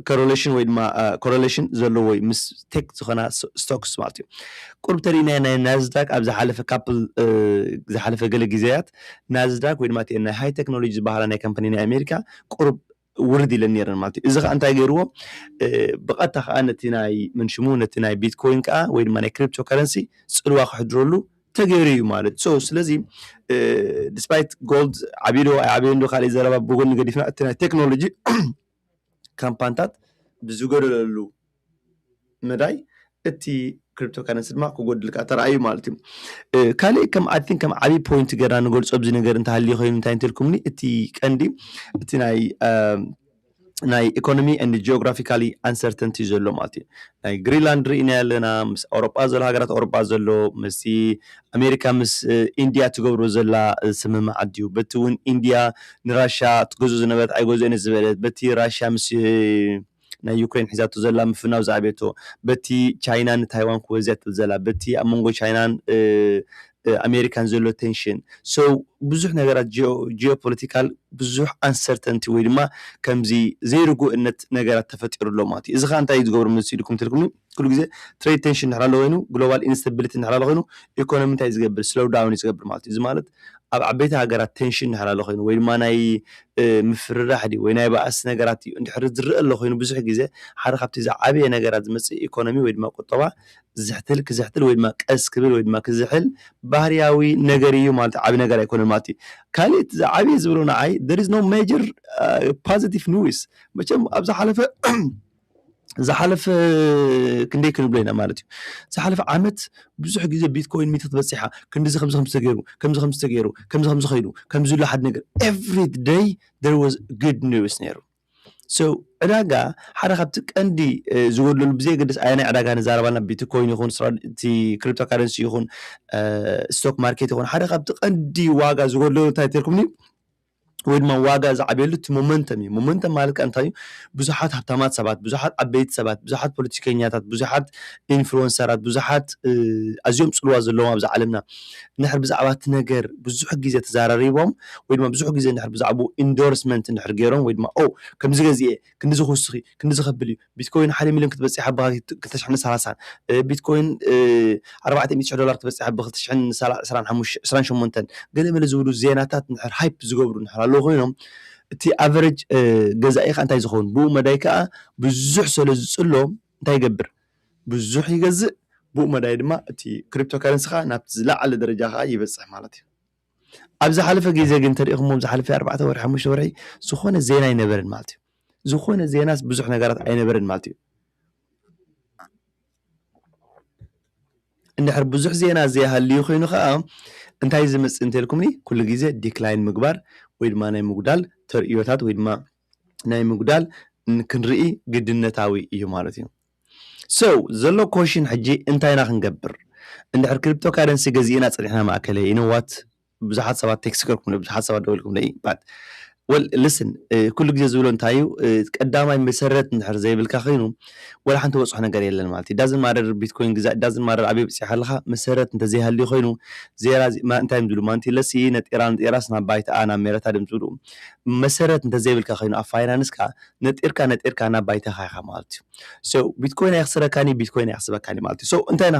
ኮሮሌሽን ወይ ድማ ኮሮሌሽን ዘለዎ እዩ ምስ ቴክ ዝኾና ስቶክስ ማለት እዩ ቁርብ ተሪእናዮ ናይ ናዝዳክ ኣብ ዝሓለፈ ካፕል ዝሓለፈ ገለ ግዜያት ናዝዳክ ወይ ድማ እቲአን ናይ ሃይ ቴክኖሎጂ ዝበሃላ ናይ ካምፓኒ ናይ ኣሜሪካ ቁሩብ ውርድ ኢለን ኔረን ማለት እዩ። እዚ ከኣ እንታይ ገይርዎ ብቐጥታ ከኣ ነቲ ናይ መን ሽሙ ነቲ ናይ ቢትኮይን ከኣ ወይ ድማ ናይ ክሪፕቶ ከረንሲ ጽልዋ ክሕድረሉ ተገይሩ እዩ ማለት እዩ። ሶ ስለዚ ዲስፓይት ጎልድ ዓብዩ ዶ ኣይዓበየን ዶ ካልእ ዘረባ ብጎኒ ገዲፍና እቲ ናይ ቴክኖሎጂ ካምፓንታት ብዝጎደለሉ መዳይ እቲ ክሪፕቶ ካረንሲ ድማ ክጎድልካ ተራእዩ ማለት እዩ ካሊእ ከም ኣይ ቲንክ ከም ዓብዪ ፖይንት ገይርና ንገልፆ ኣብዚ ነገር እንተሃልዩ ኮይኑ እንታይ እንትልኩምኒ እቲ ቀንዲ እቲ ናይ ናይ ኢኮኖሚ ን ጂኦግራፊካሊ ኣንሰርተንቲ እዩ ዘሎ ማለት እዩ ናይ ግሪንላንድ ርኢና ኣለና ምስ ኣውሮጳ ዘሎ ሃገራት ኣውሮጳ ዘሎ ምስ ኣሜሪካ ምስ ኢንድያ ትገብሮ ዘላ ስምምዕ ኣድዩ በቲ እውን ኢንድያ ንራሻ ትገዞ ዝነበረት ኣይገዞ ነ ዝበለት በቲ ራሽያ ምስ ናይ ዩክሬን ሒዛቶ ዘላ ምፍናው ዝኣብየቶ፣ በቲ ቻይና ንታይዋን ክወዝያ ትብል ዘላ፣ በቲ ኣብ መንጎ ቻይናን ኣሜሪካን ዘሎ ቴንሽን፣ so ብዙሕ ነገራት ጂኦ-ጂኦፖለቲካል ብዙሕ ኣንሰርተንቲ ወይ ድማ ከምዚ ዘይርጉእነት ነገራት ተፈጢሩ ኣሎ ማለት እዩ። እዚ ከኣ እንታይ እዩ ዝገብሮ መሲልኩም እንተልኩምኒ፣ ኩሉ ግዜ ትሬድ ቴንሽን እንድሕር ኣሎ ኮይኑ ግሎባል ኢንስተቢሊቲ እንድሕር ኣሎ ኮይኑ ኢኮኖሚ እንታይ እዩ ዝገብር ስሎው ዳውን እዩ ዝገብር ማለት እዩ እዚ ማለት ኣብ ዓበይቲ ሃገራት ቴንሽን እንድሕር ኣሎ ኮይኑ ወይ ድማ ናይ ምፍርራሕ ድዩ ወይ ናይ ባእሲ ነገራት እዩ እንድሕር ዝረአ ኣሎ ኮይኑ ብዙሕ ግዜ ሓደ ካብቲ ዝዓበየ ነገራት ዝመፅእ ኢኮኖሚ ወይ ድማ ቁጠባ ዝሕትል ክዝሕትል ወይ ድማ ቀስ ክብል ወይ ድማ ክዝሕል ባህርያዊ ነገር እዩ ማለት ዓቢ ነገር ኣይኮነን ማለት እዩ ካልእ እቲ ዝዓበየ ዝብሎ ንዓይ there is no major positive news መቸም ኣብ ዝሓለፈ ዝሓለፈ ክንደይ ክንብሎ ኢና ማለት እዩ ዝሓለፈ ዓመት ብዙሕ ግዜ ቢትኮይን ሚእቲ ክትበፅሓ ክንዲዚ ከምዚ ከምዚ ተገይሩ ከምዚ ከምዚ ተገይሩ ከምዚ ከምዚ ከይዱ ከምዚ ኢሉ ሓደ ነገር ኤቭሪ ደይ there was good news ነይሩ so ዕዳጋ ሓደ ካብቲ ቀንዲ እ፣ ዝጎድለሉ ብዘየገድስ ኣየናይ ዕዳጋ ንዛረብ ኣለና ቢትኮይን ይኹን ስራ- እቲ ክሪፕቶ ካረንሲ ይኹን ስቶክ ማርኬት ይኹን ሓደ ካብቲ ቀንዲ ዋጋ ዝጎድለሉ እንታይ ተልኩም ወይ ድማ ዋጋ ዝዓብየሉ እቲ ሞመንተም እዩ። ሞመንተም ማለት ከኣ እንታይ እዩ? ብዙሓት ሃብታማት ሰባት፣ ብዙሓት ዓበይቲ ሰባት፣ ብዙሓት ፖለቲከኛታት፣ ብዙሓት ኢንፍሉወንሰራት፣ ብዙሓት ኣዝዮም ጽልዋ ዘለዎም ኣብዛ ዓለምና እንድሕር ብዛዕባ እቲ ነገር ብዙሕ ግዜ ተዘራሪቦም ወይ ድማ ብዙሕ ግዜ እንድሕር ብዛዕብኡ ኢንዶርስመንት እንድሕር ገይሮም ወይ ድማ ኦ ከምዚ ገዚአ ክንድዚ ክውስኽ እዩ፣ ክንድዚ ከብል እዩ፣ ቢትኮይን ሓደ ሚልዮን ክትበጺሕ ብ ክልተ ሽሕን ሰላሳን፣ ቢትኮይን ኣርባዕተ ሚእቲ ሽሕ ዶላር ክትበጺሕ ብ ክልተ ሽሕን ዕስራን ሸሞንተን፣ ገለ መለ ዝብሉ ዜናታት እንድሕር ሃይፕ ዝገብሩ እንድሕር ኣለዉ ኮይኖም፣ እቲ ኣቨረጅ ገዛኢ ከኣ እንታይ ዝኸውን? ብኡ መዳይ ከኣ ብዙሕ ሰለ ዝጽሎ እንታይ ይገብር? ብዙሕ ይገዝእ፣ ብኡ መዳይ ድማ እቲ ክሪፕቶካረንሲ ከኣ ናብቲ ዝለዓለ ደረጃ ከኣ ይበጽሕ ማለት እዩ። ኣብ ዝሓለፈ ግዜ ግን እንተሪኢኽሞ ዝሓለፈ ኣርባዕተ ወርሒ ሓሙሽተ ወርሒ ዝኾነ ዜና ኣይነበረን ማለት እዩ። ዝኾነ ዜናስ ብዙሕ ነገራት ኣይነበረን ማለት እዩ። እንድሕር ብዙሕ ዜና ዘይሃልዩ ኮይኑ ከዓ እንታይ እዩ ዝመፅእ እንተልኩምኒ ኩሉ ግዜ ዲክላይን ምግባር ወይ ድማ ናይ ምጉዳል ተርእዮታት ወይ ድማ ናይ ምጉዳል ን- ክንርኢ ግድነታዊ እዩ ማለት እዩ። So ዘሎ ኮሽን ሕጂ እንታይ ኢና ክንገብር እንድሕር ክሪፕቶ ካረንሲ ገዚእና ጸኒሕና ማእከለይ you know what ብዙሓት ሰባት ቴክስት ገርኩምለይ ብዙሓት ሰባት ደዊልኩምለይ but well listen ኩሉ ግዜ ዝብሎ እንታይ እዩ ቀዳማይ መሰረት እንድሕር ዘይብልካ ኮይኑ ወላ ሓንቲ ወጽሖ ነገር የለን ማለት እዩ ዳዝን ማረር ቢትኮይን ግዛ ዳዝን ማረር ኣበይ ብጽሕ ኣለኻ መሰረት እንተዘይሃልዩ ኮይኑ ዜራ እንታይ እዮም ዝብሉ ማንቲ ለሲ ነጤራ ነጤራስ ናብ ባይትኣ ናብ ሜረታ ድም ዝብሉ መሰረት እንተዘይብልካ ኮይኑ ኣብ ፋይናንስካ ነጢርካ ነጢርካ ናብ ባይታኻ ኢኻ ማለት እዩ so ቢትኮይን ኣይኽስረካን እዩ ቢትኮይን ኣይኽስበካን እዩ ማለት እዩ so እንታይ ኢና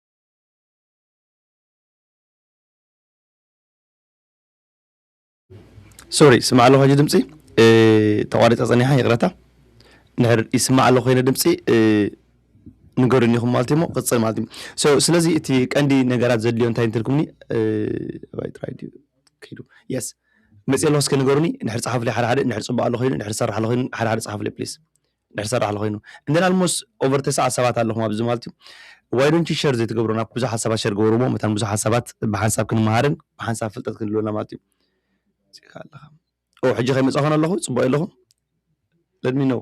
ሶሪ ስማዕ ኣለኹ ሕጂ ድምፂ ተቋሪፀ ፀኒሓ ይቕረታ ንሕር ይስማዕ ኣሎ ኮይነ ድምፂ ንገሩኒ ኢኹም ማለት እዩሞ ቅፅል ማለት እዩ ሶ ስለዚ እቲ ቀንዲ ነገራት ዘድልዮ እንታይ እንትልኩምኒ ባይ ጥራይ ድዩ ከይዱ የስ መፅእ ኣለኹ እስከ ንገሩኒ ንሕር ፀሓፍለይ ሓደ ሓደ ንሕር ፅቡቅ ኣሎ ኮይኑ ንሕር ሰራሕ ኣሎ ኮይኑ ሓደ ሓደ ፀሓፍለይ ፕሊስ ድሕሪ ሰራሕ ለኮይኑ እንደን ኣልሞስ ኦቨር ተስዓት ሰባት ኣለኹም ኣብዚ ማለት እዩ ዋይ ዶንት ዩ ሸር ዘይትገብሩ ናብ ብዙሓት ሰባት ሸር ገበርዎ መታን ብዙሓት ሰባት ብሓንሳብ ክንመሃርን ብሓንሳብ ፍልጠት ክንህልወና ማለት እዩ ጽካ ኣለኻ ኦ ሕጂ ከይመጻኹን ኣለኹ ጽቡቅ ኣለኹም let me know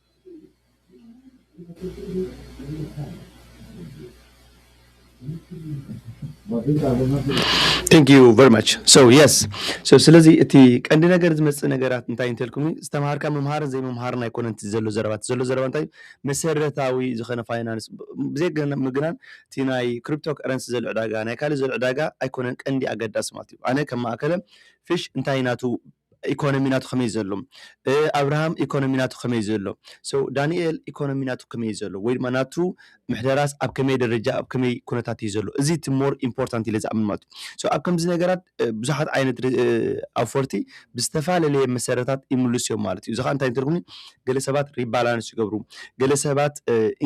Thank you very much so yes so ስለዚ እቲ ቀንዲ ነገር ዝመፅእ ነገራት እንታይ እንተልኩምኒ ዝተምሃርካ ምምሃርን ዘይምምሃርን ኣይኮነን እቲ ዘሎ ዘረባ እቲ ዘሎ ዘረባ እንታይ መሰረታዊ ዝኾነ ፋይናንስ ብዘይምግናን እቲ ናይ ክሪፕቶ ከረንሲ ዘሎ ዕዳጋ ናይ ካልእ ዘሎ ዕዳጋ ኣይኮነን ቀንዲ ኣገዳሲ ማለት እዩ ኣነ ከም ማእከለ ፊሽ እንታይ ናቱ ኢኮኖሚ ናቱ ከመይ ዘሎ ኣብርሃም ኢኮኖሚ ናቱ ከመይ ዘሎ so ዳኒኤል ኢኮኖሚ ናቱ ከመይ ዘሎ ወይ ድማ ናቱ ምሕደራስ ኣብ ከመይ ደረጃ ኣብ ከመይ ኩነታት እዩ ዘሎ እዚ እቲ more important ኢለ ዝኣምን ማለት እዩ so ኣብ ከምዚ ነገራት ብዙሓት ዓይነት ኣውፈርቲ ብዝተፋለለየ መሰረታት ይምልሱ እዮም ማለት እዩ እዚ ከኣ እንታይ እዩ ትርጉሙ ገለ ሰባት rebalance ይገብሩ ገለ ሰባት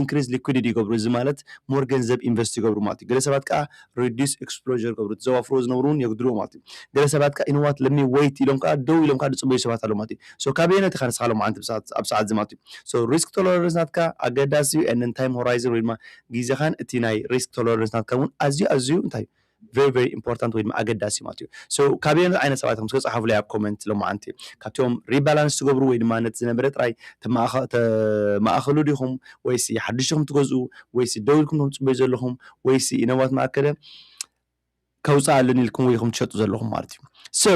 increase liquidity ይገብሩ እዚ ማለት more ገንዘብ invest ይገብሩ ማለት እዩ ገለ ሰባት ከኣ Reduce Exposure ይገብሩ። እቲ ዘዋፍርዎ ዝነብሩ ውን የጉድልዎ ማለት እዩ። ገለ ሰባት ከኣ you know what let me wait ኢሎም ከኣ ደው ኢሎም ከኣ ዝጽበዩ ሰባት ኣለዉ ማለት እዩ። So ካበየናይ ኢኻ ንስኻ ሎማዓንቲ ብሰዓት ኣብ ሰዓት እዚ ማለት እዩ። So Risk Tolerance ናትካ ኣገዳሲ እዩ and then Time Horizon ወይ ድማ ግዜኻን እቲ ናይ Risk Tolerance ናትካ ውን ኣዝዩ ኣዝዩ እንታይ እዩ very very important ወይ ድማ ኣገዳሲ እዩ ማለት እዩ። So ካበየናይ ዓይነት ሰባት ኢኹም እስከ ጽሓፉለይ ኣብ Comment ሎማዓንቲ። ካብቶም Rebalance ትገብሩ ወይ ድማ ነቲ ዝነበረ ጥራይ ተማእኻ ተማእኽሉ ዲኹም ወይሲ ሓድሽ ኢኹም ትገዝኡ ወይሲ ደው ኢልኩም ትጽበዩ ዘለኹም ወይስ you know what መኣከለ ከውፅእ ኣለኒ ኢልኩም ወይ ኢኹም ትሸጡ ዘለኹም ማለት እዩ so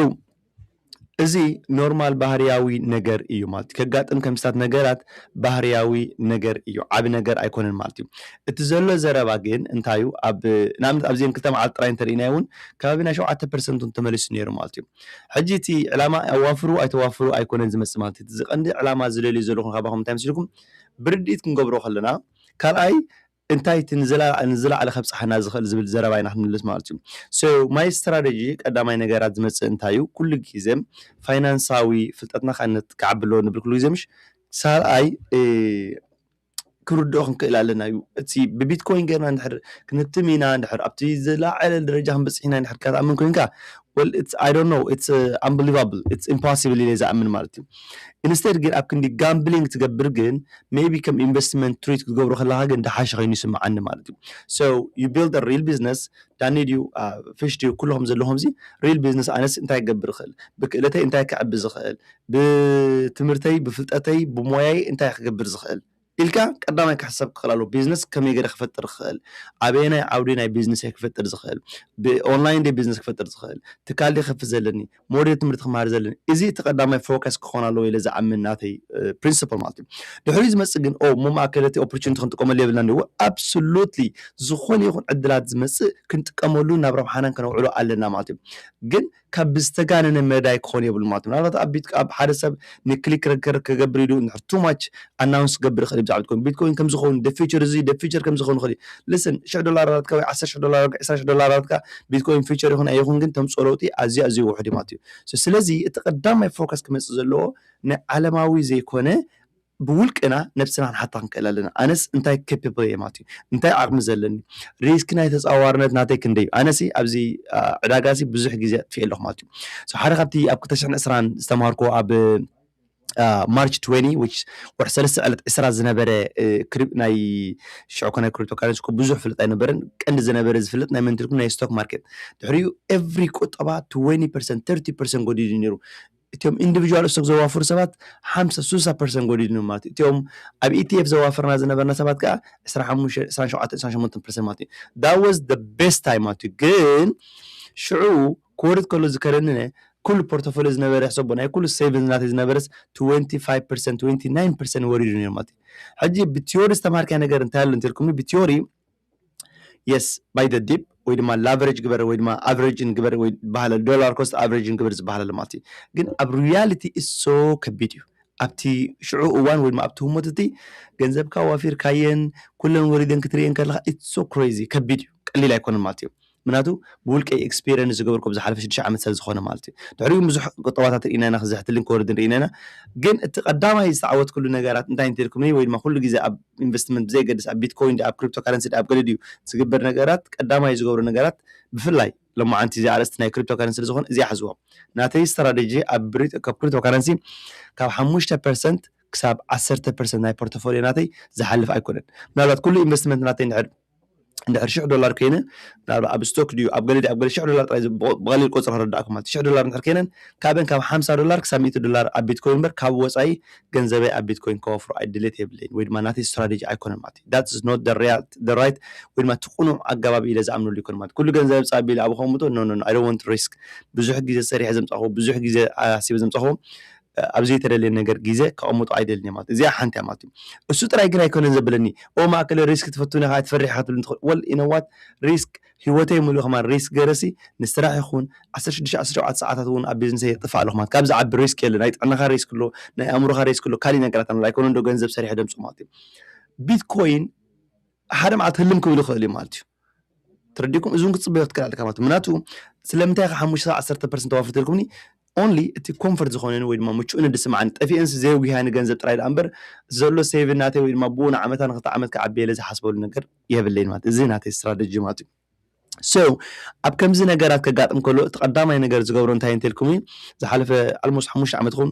እዚ ኖርማል ባህርያዊ ነገር እዩ ማለት እዩ ከጋጥም ከምስታት ነገራት ባህርያዊ ነገር እዩ ዓብ ነገር ኣይኮነን ማለት እዩ እቲ ዘሎ ዘረባ ግን እንታይ እዩ ኣብ ንኣብነት ኣብዘን ክልተ መዓልቲ ጥራይ እንተርእናዮ እውን ከባቢ ናይ ሸውዓተ ፐርሰንት እውን ተመሊሱ ነይሩ ማለት እዩ ሕጂ እቲ ዕላማ ኣዋፍሩ ኣይተዋፍሩ ኣይኮነን ዝመፅእ ማለት እዩ እዚ ቀንዲ ዕላማ ዝደልዩ ዘለኹም ካባኹም እንታይ መስልኩም ብርድኢት ክንገብሮ ከለና ካልኣይ እንታይ እቲ ንዝላዓለ ከብጻሓና ዝክእል ዝብል ዘረባ ኢና ክንምልስ ማለት እዩ so my strategy ቀዳማይ ነገር ኣብ ዝመጽእ እንታይ እዩ ኩሉ ግዜ ፋይናንሳዊ ፍልጠትና ክዓቢ ኣለዎ ንብል ኩሉ ግዜ ምሽ ካልኣይ ክንርድኦ ክንክእል ኣለና እዩ እቲ ብቢትኮይን ገርና እንድሕር ክንትም ኢና እንድሕር ኣብቲ ዝላዓለ ደረጃ ክንበጽሕ ኢና እንድሕር ትኣምን ኮንካ well it's I don't know it's uh, unbelievable it's impossible ኢለ ዝኣምን ማለት እዩ ኢንስቴድ ግን ኣብ ክንዲ ጋምብሊንግ ትገብር ግን ሜይቢ ከም ኢንቨስትመንት ትሪት ክትገብሮ ከለኻ ግን ደሓሸ ከይኑ ይስመዓኒ ማለት እዩ so you build a real business ዳኒ ድዩ ፍሽ ድዩ ኩልኹም ዘለኹምዚ real business ኣነስ እንታይ ክገብር ይኽእል ብክእለተይ እንታይ ክዕቢ ዝኽእል ብትምህርተይ ብፍልጠተይ ብሞያይ እንታይ ክገብር ዝኽእል ኢልካ ቀዳማይ ክሕሰብ ክኽእል ኣለዎ ቢዝነስ ከመይ ገይረ ክፈጥር ክኽእል ኣበየናይ ዓውዲ ናይ ቢዝነሰይ ክፈጥር ዝኽእል ብኦንላይን ደ ቢዝነስ ክፈጥር ዝኽእል ትካል ደ ከፍ ዘለኒ ሞዴል ትምህርቲ ክመሃር ዘለኒ እዚ እቲ ቀዳማይ ፎከስ ክኾን ኣለዎ ኢለ ዝኣምን ናተይ ፕሪንስፕል ማለት እዩ ድሕሪ ዝመፅእ ግን ኦ እሞ ማእከል እቲ ኦፖርቹኒቲ ክንጥቀመሉ የብልናን እዎ ኣብሶሉትሊ ዝኾነ ይኹን ዕድላት ዝመፅእ ክንጥቀመሉ ናብ ረብሓናን ከነውዕሎ ኣለና ማለት እዩ ግን ካብ ብዝተጋነነ መዳይ ክኾን የብሉ ማለት እዩ ምናልባት ኣብ ቤት ኣብ ሓደ ሰብ ንክሊክ ረከር ከገብር ኢሉ እንድሕር too much ኣናውንስ ክገብር ይኽእል እዩ ብዛዕባ ቢትኮይን ቢትኮይን ከምዚ ክኸውን the future እዚ the future ከምዚ ክኸውን ይኽእል እዩ listen ሽሕ ዶላራትካ ወይ ዓሰርተ ሽሕ ዶላራትካ ዕስራ ሽሕ ዶላራትካ ቢትኮይን future ይኹን ኣይኹን ግን ተምፅኦ ለውጢ ኣዝዩ ኣዝዩ ውሑድ እዩ ማለት እዩ So ስለዚ እቲ ቀዳማይ ፎከስ ክመፅእ ዘለዎ ናይ ዓለማዊ ዘይኮነ ብውልቅና ነብስና ክንሓታ ክንክእል ኣለና ኣነስ እንታይ capable እየ ማለት እዩ እንታይ ዓቕሚ ዘለኒ ሪስክ ናይ ተጻዋርነት ናተይ ክንደይ እዩ ኣነሲ ኣብዚ ዕዳጋሲ ብዙሕ ግዜ ኣጥፍኤ ኣለኹ ማለት እዩ ሓደ ካብቲ ኣብ 2020 ዝተማሃርኮ ኣብ ማርች 20 which ወርሒ ሰለስተ ዕለት ዕስራ ዝነበረ ናይ ሽዑ ኮነ ክሪፕቶ ካረንሲ ኮ ብዙሕ ፍልጥ ኣይነበረን ቀንዲ ዝነበረ ዝፍለጥ ናይ መንትልኩም ናይ ስቶክ ማርኬት ድሕሪኡ ኤቭሪ ቁጠባ 20 ፐርሰንት 30 ፐርሰንት ጎዲሉ ነይሩ እቲኦም ኢንዲቪጁዋል እስቶክ ዘዋፍሩ ሰባት ሓምሳ ስሳ ፐርሰንት ጎዲድኖም ማለት እዩ። እቲኦም ኣብ ETF ዘዋፍርና ዝነበርና ሰባት ከኣ ዕስራን ሓሙሽተን ዕስራን ሸውዓተን ዕስራን ሸሞንተን ፐርሰንት ማለት እዩ። That was the best time ማለት እዩ። ግን ሽዑ ክወርድ ከሎ ዝከረንነ ኩሉ ፖርቶፎልዮ ዝነበረ ሕሰቦ ናይ ኩሉ ሴቭንስ ናተይ ዝነበረስ ትወንቲ ፋይቭ ፐርሰንት ትወንቲ ናይን ፐርሰንት ወሪዱ ነይሩ ማለት እዩ። ሕጂ ብቲዮሪ ዝተማሃርካዮ ነገር እንታይ ኣሎ እንተልኩምኒ ብቲዮሪ የስ ባይ ዘ ዲፕ ወይ ድማ ላቨሬጅ ግበር ወይ ድማ ኣቨሬጅን ግበር ወይ ዝበሃለ ዶላር ኮስት ኣቨሬጅን ግበር ዝበሃለሉ ማለት እዩ ግን ኣብ ሪያሊቲ እሶ ከቢድ እዩ ኣብቲ ሽዑ እዋን ወይ ድማ ኣብቲ ህሞት እቲ ገንዘብካ ዋፊርካየን ኩለን ወሪደን ክትርእየን ከለካ ኢትሶ ክሬዚ ከቢድ እዩ ቀሊል ኣይኮነን ማለት እዩ ምክንያቱ ብውልቀይ ኤክስፔርየንስ ዝገበርኩ ኣብ ዝሓለፈ ሽዱሽተ ዓመት ስለ ዝኾነ ማለት እዩ። ድሕሪኡ እውን ብዙሕ ቁጠባታት ርኢና ኢና ክዝሕትልን ክወርድን ርኢና ኢና። ግን እቲ ቀዳማይ ዝተዓወትክሉ ነገራት እንታይ እንተልኩምኒ ወይ ድማ ኩሉ ግዜ ኣብ ኢንቨስትመንት ብዘየገድስ ኣብ ቢትኮይን ድኣ ኣብ ክሪፕቶ ካረንሲ ድኣ ኣብ ገለ ድዩ ዝግበር ነገራት ቀዳማይ ዝገብሮ ነገራት ብፍላይ ሎማዓንቲ እዚኣ ኣርእስቲ ናይ ክሪፕቶ ካረንሲ ስለ ዝኾነ እዚኣ ሕዝዎ ናተይ ስትራደጂ ኣብ ክሪፕቶ ካረንሲ ካብ ሓሙሽተ ፐርሰንት ክሳብ ዓሰርተ ፐርሰንት ናይ ፖርቶፎልዮ ናተይ ዝሓልፍ ኣይኮነን ምናልባት ኩሉ ኢንቨስትመንት ናተይ እንድሕር እንድሕር ሽሕ ዶላር ኮይነን ምናልባት ኣብ ስቶክ ድዩ ኣብ ገለ ድዩ ኣብ ገለ ሽሕ ዶላር ጥራይ ብቐሊል ቁጽሪ ክርዳእኩም ማለት ሽሕ ዶላር እንድሕር ኮይነን ካበን ካብ ሓምሳ ዶላር ክሳብ ሚእቲ ዶላር ኣብ ቢትኮይን እምበር ካብ ወጻኢ ገንዘበይ ኣብ ቢትኮይን ከወፍሮ ኣይ ድሌት የብለይን ወይ ድማ ናተይ ስትራቴጂ ኣይኮነን ማለት እዩ ዳትስ ኖት ደ ሪያልት ደ ራይት ወይ ድማ እቲ ቅኑዕ ኣገባብ ኢለ ዝኣምነሉ ኣይኮነን ማለት ኩሉ ገንዘብ ምጻእ ኣቢለ ኣብ ከምኡ ኖ ኖ ኖ ኣይ ዶንት ወንት ሪስክ ብዙሕ ግዜ ሰሪሐ ዘምጻኹዎ ብዙሕ ግዜ ኣሲበ ዘምጻኹዎ ኣብ ዘይተደልየ ነገር ግዜ ከቐምጡ ኣይደልን ኢየ ማለት እዚኣ ሓንቲ ኢያ ማለት ኢዩ እሱ ጥራይ ግን ኣይኮነን ዘብለኒ ኦህ ማእከለይ ሪስክ ትፈቱን ኢኻ ትፈርሕ ኢኻ ክትብልኒ ትኽእል ወል ኢዩ ነዋት ሪስክ ሂወተይ ምሉእ ከማን ሪስክ ገይረሲ ንስራሕ ይኹን ዓሰርተ ሽዱሽተ ዓሰርተ ሸውዓተ ሰዓታት ውን ኣብ ቢዝንሰይ የጥፍእ ኣለኹ ማለት ካብዚ ዝዓቢ ሪስክ የለን ናይ ጥዕናኻ ሪስክ ኣሎ ናይ ኣእምሮኻ ሪስክ ኣሎ ካሊእ ነገራት ኣሎ ኣይኮነን ዶ ገንዘብ ሰሪሐ ደምጽኦ ማለት ኢዩ ቢትኮይን ሓደ መዓልቲ ህልም ክብል ይኽእል ኢዩ ማለት ኢዩ ትርዲኩም እዚውን ክትፅበዮ ክትክእል ኣለካ ማለት ምክንያቱ ስለምንታይ ከ ሓሙሽተ ዓሰርተ ፐርሰንት ተዋፍር ተልኩምኒ ኦንሊ እቲ ኮንፈርት ዝኾነኒ ወይ ድማ ምቹእኒ ድስምዓኒ ጠፊኤንሲ ዘየጉህያኒ ገንዘብ ጥራይ ደኣ እምበር ዘሎ ሴቭ ናተይ ወይ ድማ ብኡ ንዓመታ ንክልተ ዓመት ክዓብየለ ዝሓስበሉ ነገር የብለይን ማለት እዚ ናተይ ስትራተጂ ማለት እዩ ሶ ኣብ ከምዚ ነገራት ከጋጥም ከሎ እቲ ቀዳማይ ነገር ዝገብሮ እንታይ እንተልኩምኒ ዝሓለፈ ኣልሞስ ሓሙሽተ ዓመት ይኹን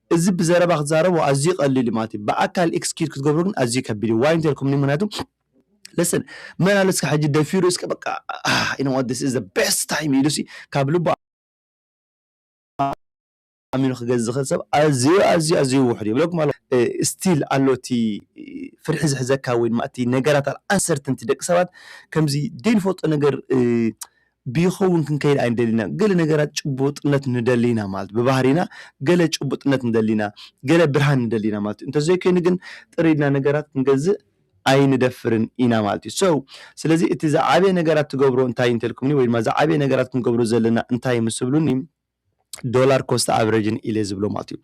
እዚ ብዘረባ ክትዛረቦ ኣዝዩ ቀሊል እዩ ማለት እዩ ብኣካል ኤክስኪዩት ክትገብሮ ግን ኣዝዩ ከቢድ እዩ ዋይ እንተ ኢልኩምኒ ምክንያቱ listen መን ኣሎ እስከ ሕጂ ደፊሩ እስከ በቃ you know what this is the best time ኢሉሲ ካብ ልቡ ኣሚኑ ክገዝ ዝኽእል ሰብ ኣዝዩ ኣዝዩ ኣዝዩ ውሑድ ይብለኩም ኣሎ ስቲል ኣሎ እቲ ፍርሒ ዝሕዘካ ወይ ድማ እቲ ነገራት ኣንሰርትንቲ ደቂ ሰባት ከምዚ ዘይንፈልጦ ነገር ብይኸውን ክንከይድ ኣይንደልን ኢና። ገለ ነገራት ጭቡጥነት ንደሊ ኢና ማለት ብባህሪና ገለ ጭቡጥነት ንደሊ ኢና፣ ገለ ብርሃን ንደሊ ኢና ማለት እዩ። እንተዘይኮይኑ ግን ጥር ኢልና ነገራት ክንገዝእ ኣይንደፍርን ኢና ማለት እዩ። So ስለዚ እቲ ዝዓበየ ነገራት ትገብሮ እንታይ እዩ እንተልኩምኒ ወይ ድማ ዝዓበየ ነገራት ክንገብሮ ዘለና እንታይ እዩ ምስ ትብሉኒ፣ ዶላር ኮስት ኣቨሬጅን ኢለ ዝብሎ ማለት እዩ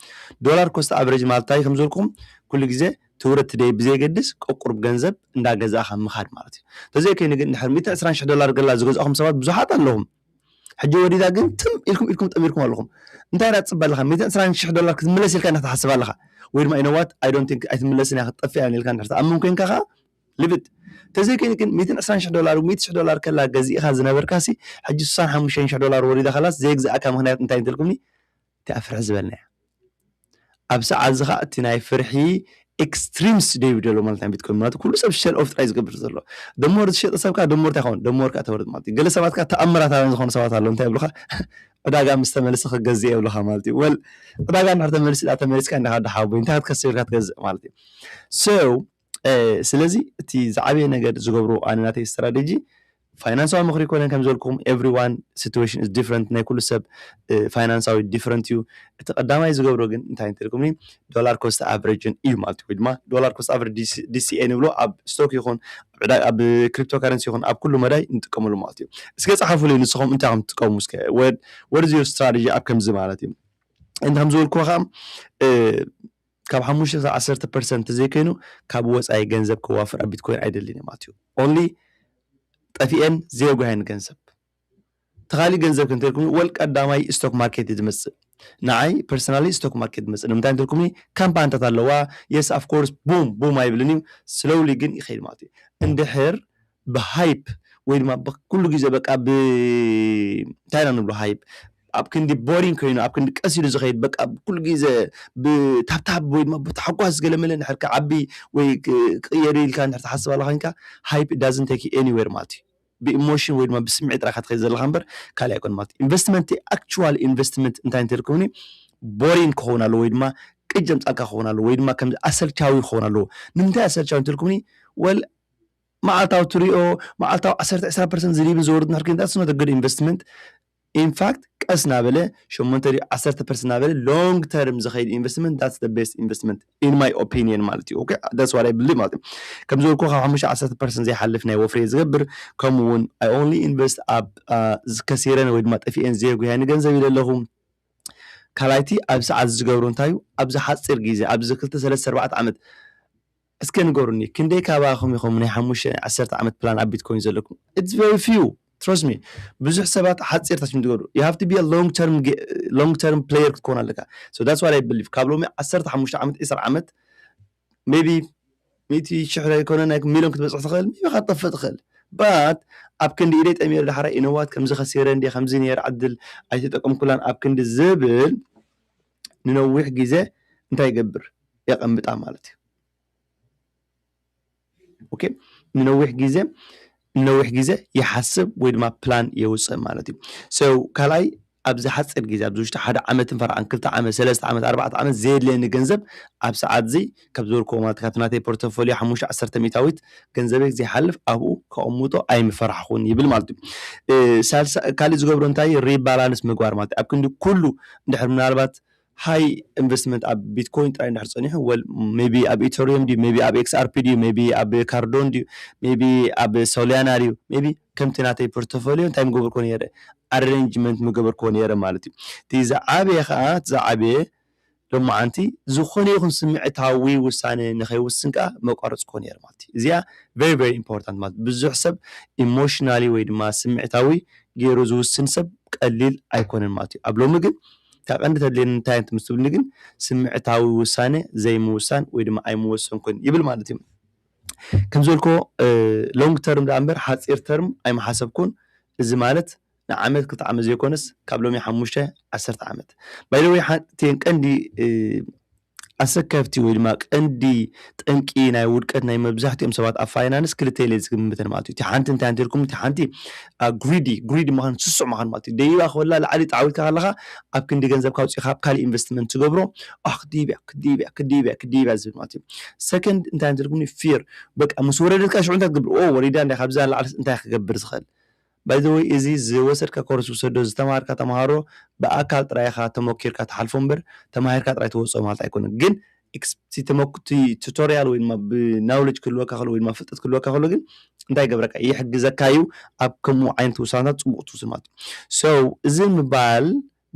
ዶላር ኮስት ኣቨሬጅ ማለት እንታይ ከም ዝበልኩም ኩሉ ግዜ ትውረድ ደይ ብዘየገድስ ቆቁርብ ገንዘብ እንዳገዛእኻ ምኻድ ማለት እዩ ተዘይከይኑ ግን ድሕር 120 ሽሕ ዶላር ገላ ዝገዛእኹም ሰባት ብዙሓት ኣለኹም ሕጂ ወዲታ ግን ትም ኢልኩም ኢልኩም ጠሚርኩም ኣለኹም እንታይ ኢና ትፅበ ኣለኻ 120 ሽሕ ዶላር ክትምለስ ኢልካ ኢና ትሓስብ ኣለኻ ወይ ድማ ኢነዋት ኣይ ዶንት ቲንክ ኣይትምለስን እያ ክትጠፍእ እያ ኢልካ እንድሕር ትኣምን ኮንካ ኸዓ ልብድ ተዘይ ኮይኑ ግን ሚእትን ዕስራን ሽሕ ዶላር ወይ ሚእቲ ሽሕ ዶላር ከላ ገዚእኻ ዝነበርካ ሲ ሕጂ ሱሳን ሓሙሽተን ሽሕ ዶላር ወሪዳ ከላስ ዘይግዛኣካ ምኽንያት እንታይ እንተልኩምኒ እቲኣ ፍርሒ ዝበልናያ ኣብ ሰዓት እዚ ኸኣ እቲ ናይ ፍርሒ ኤክስትሪምስ ዶ ይብደሎ ማለት ናይ ቢትኮይን ማለት ኩሉ ሰብ ሸል ኦፍ ጥራይ ዝገብር ዘሎ ደሞር ዝሸጠ ሰብ ከኣ ደሞር እንታይ ይኸውን ደሞር ከኣ ተወርድ ማለት እዩ ገለ ሰባት ከኣ ተኣምራታውያን ዝኾኑ ሰባት ኣለዉ እንታይ ይብሉኻ ዕዳጋ ምስ ተመልሰ ክገዝእ የብልኻ ማለት እዩ ወል ዕዳጋ እንድሕር ተመልሲ ዳ ተመሊስካ እንዲኻ ዶ ሓወቦይ እንታይ ክትከስብ ኢልካ ትገዝእ ማለት እዩ so ስለዚ እቲ ዝዓበየ ነገር ዝገብሮ ኣነ ናተይ ስትራደጂ ፋይናንሳዊ ምኽሪ ኮነ ከም ዘልኩም ኤቭሪ ዋን ሲትዌሽን ኢዝ ዲፍረንት ናይ ኩሉ ሰብ ፋይናንሳዊ ዲፍረንት እዩ እቲ ቀዳማይ ዝገብሮ ግን እንታይ እንትልኩምኒ ዶላር ኮስት ኣቨሬጅን እዩ ማለት ወይ ድማ ዶላር ኮስት ኣቨሬጅ ዲሲኤ ንብሎ ኣብ ስቶክ ይኹን ኣብ ክሪፕቶ ካረንሲ ይኹን ኣብ ኩሉ መዳይ ንጥቀመሉ ማለት እዩ እስከ ጸሓፉለይ ንስኹም እንታይ ከም ትጥቀሙ እስከ ወድ ወርዝ ዩር ስትራቴጂ ኣብ ከምዚ ማለት እዩ እንተ ከም ዝበልኩ ከዓ ካብ ሓሙሽተ ክሳብ ዓሰርተ ፐርሰንት ተዘይኮይኑ ካብ ወፃኢ ገንዘብ ከዋፍር ኣብ ቢትኮይን ኣይደልን እዮም ኣትዩ ኦንሊ ጠፊኤን ዘየጓየን ገንዘብ ተኻሊ ገንዘብ ክንተልኩም ወል ቀዳማይ ስቶክ ማርኬት እዩ ዝመፅእ ንዓይ ፐርሰናሊ ስቶክ ማርኬት መፅእ ንምንታይ እንትልኩምኒ ካምፓኒታት ኣለዋ የስ ኣፍኮርስ ቡም ቡም ኣይብልን እዩ ስሎውሊ ግን ይኸይድ ማለት እዩ እንድሕር ብሃይፕ ወይ ድማ ኩሉ ግዜ በቃ ብ እንታይ ኢና ንብሎ ሃይፕ ኣብ ክንዲ ቦሪንግ ኮይኑ ኣብ ክንዲ ቀስ ኢሉ ዝኸይድ በቃ ኩሉ ግዜ ብታብታብ ወይ ድማ ብታሕጓስ ገለመለ እንድሕር ክዓቢ ወይ ክቕየር ኢልካ እንድሕር ትሓስብ ኣለኻ ኮይንካ ሃይፕ ዳዝንት ቴክ ዩ ኤኒዌር ማለት እዩ ብኢሞሽን ወይ ድማ ብስምዒት ጥራይ ኢኻ ትኸይድ ዘለኻ እምበር ካልእ ኣይኮነን ማለት እዩ ኢንቨስትመንት ኣክቹዋል ኢንቨስትመንት እንታይ እንተልከውኒ ቦሪንግ ክኸውን ኣለዎ ወይ ድማ ቅጅ ዘምጻልካ ክኸውን ኣለዎ ወይ ድማ ከምዚ ኣሰልቻዊ ክኸውን ኣለዎ ንምንታይ ኣሰልቻዊ እንተልኩምኒ ወል መዓልታዊ ትሪኦ መዓልታዊ ዓሰርተ ዕስራ ፐርሰንት ዝድይብን ዝወርድን ድሕሪ ኮይንካ ስኖት ግድ ኢንቨስትመንት ኢንፋክት ቀስ ናበለ ሸሞንተ ድዩ ዓሰርተ ፐርሰንት ናበለ ሎንግ ተርም ዝኸይድ ኢንቨስትመንት ዳትስ ደ ቤስት ኢንቨስትመንት ኢን ማይ ኦፒኒየን ማለት እዩ ኦኬ ዳትስ ዋት ኣይ ብሊቭ ማለት እዩ ከም ዝበልኩ ካብ ሓሙሽተ ዓሰርተ ፐርሰንት ዘይሓልፍ ናይ ወፍሪ እየ ዝገብር ከምኡ እውን ኣይ ኦንሊ ኢንቨስት ኣብ ከሲረን ወይ ድማ ጠፊኤን ዘየጉሃኒ ገንዘብ ኢለ ኣለኹ ካልኣይቲ ኣብ ሰዓት ዝገብሩ እንታይ እዩ ኣብዚ ሓፂር ግዜ ኣብዚ ክልተ ሰለስተ ኣርባዕተ ዓመት እስከ ንገሩኒ ክንደይ ካባኩም ኢኩም ናይ ሓሙሽተ ናይ ዓሰርተ ዓመት ፕላን ኣብ ቢትኮይን ዘለኩም its very few trust me ብዙሕ ሰባት ሓጺር ታችም ትገብሩ you have to be a long term long term player ክትኮን ኣለካ so that's what I believe ካብ ሎሚ ዓሰርተ ሓሙሽተ ዓመት ዒስራ ዓመት maybe ሚእቲ ሽሕ ዘይኮነ ናይ ሚሊዮን ክትበጽሕ ትኽእል maybe ከኣ ትጠፍእ ትኽእል but ኣብ ክንዲ ኢደይ ጠሚረ ዳሕራይ you know what ከምዚ ከሲረ እንድየ ከምዚ ነይረ ዕድል ኣይተጠቀምኩላን ኣብ ክንዲ ዝብል ንነዊሕ ግዜ እንታይ ይገብር የቐምጣ ማለት እዩ። ኦኬ ንነዊሕ ግዜ ንነዊሕ ግዜ ይሓስብ ወይ ድማ ፕላን የውፅእ ማለት እዩ ሰው ካልኣይ ኣብዚ ሓፂር ግዜ ኣብዚ ውሽጢ ሓደ ዓመትን ፈርዓን ክልተ ዓመት ሰለስተ ዓመት ኣርባዕተ ዓመት ዘየድልየኒ ገንዘብ ኣብ ሰዓት እዚ ካብ ዝበልኩዎ ማለት ካብቲ ናተይ ፖርተፎልዮ ሓሙሽተ ዓሰርተ ሚእታዊት ገንዘበይ ዘይሓልፍ ኣብኡ ከቕምጦ ኣይምፈራሕኹን ይብል ማለት እዩ። ሳልሳይ ካልእ ዝገብሮ እንታይ እዩ ሪባላንስ ምግባር ማለት እዩ። ኣብ ክንዲ ኩሉ እንድሕር ምናልባት ሃይ ኢንቨስትመንት ኣብ ቢትኮይን ጥራይ እንድሕር ጸኒሑ ወል ሜቢ ኣብ ኢቶሪየም ድዩ ሜቢ ኣብ ኤክስኣርፒ ድዩ ሜቢ ኣብ ካርዶን ድዩ ሜቢ ኣብ ሶልያና ድዩ ሜቢ ከምቲ ናተይ ፖርተፎልዮ እንታይ ምገበርኩዎ ነይረ ኣሬንጅመንት ምገበርኩዎ ነይረ ማለት እዩ። እቲ ዝዓበየ ከኣ እቲ ዝዓበየ ሎማዓንቲ ዝኾነ ይኹን ስምዒታዊ ውሳነ ንኸይውስን ከኣ መቋርጽክዎ ነይረ ማለት እዩ። እዚኣ very very important ማለት ብዙሕ ሰብ ኢሞሽናሊ ወይ ድማ ስምዒታዊ ገይሩ ዝውስን ሰብ ቀሊል ኣይኮነን ማለት እዩ። ኣብ ሎሚ ግን እታ ቀንዲ ተድልየኒ እንታይ እያ ምስ ትብልኒ ግን ስምዒታዊ ውሳነ ዘይምውሳን ወይ ድማ ኣይምወሰንኩን ይብል ማለት እዩ። ከም ዝበልክዎ ሎንግ ተርም ደኣ እምበር ሓጺር ተርም ኣይምሓሰብኩን እዚ ማለት ንዓመት ክልተ ዓመት ዘይኮነስ ካብ ሎሚ ሓሙሽተ ዓሰርተ ዓመት ባይ ዘ ወይ ሓንቲን ቀንዲ ኣሰከፍቲ ወይ ድማ ቀንዲ ጠንቂ ናይ ውድቀት ናይ መብዛሕትኦም ሰባት ኣብ ፋይናንስ ክልተ ኢለ ዝግምተን ማለት እዩ እቲ ሓንቲ እንታይ እንተ ኢልኩም እቲ ሓንቲ ግሪዲ ግሪዲ ምዃን ስሱዕ ምዃን ማለት እዩ ደይባ ክበላ ላዕሊ ጣዕዊልካ ከለኻ ኣብ ክንዲ ገንዘብ ካውፂእኻ ኣብ ካልእ ኢንቨስትመንት ትገብሮ ኣሕ ክድይብያ ክድይብያ ክድይብያ ክድይብያ ዝብል ማለት እዩ ሰከንድ እንታይ እንተ ኢልኩምኒ ፊር በቃ ምስ ወረደትካ ሽዑ እንታይ ትገብር ኦ ወሪዳ እንዳ ካብዛ ላዕሊ እንታይ ክገብር ዝኽእል ባይ ዘ ወይ እዚ ዝወሰድካ ኮርስ ውሰዶ ዝተማሃርካ ተማሃሮ ብኣካል ጥራይ ኢካ ተሞኪርካ ትሓልፎ እምበር ተማሂርካ ጥራይ ትወጾ ማለት ኣይኮነን ግን እቲ ተመኩ እቲ ቱቶርያል ወይ ድማ ብ ናውለጅ ክህልወካ ከሎ ወይ ድማ ፍልጠት ክህልወካ ከሎ ግን እንታይ ይገብረካ እዩ ይሕግዘካ እዩ ኣብ ከምኡ ዓይነት ውሳነታት ጽቡቕ ትውስድ ማለት እዩ so እዚ ምባል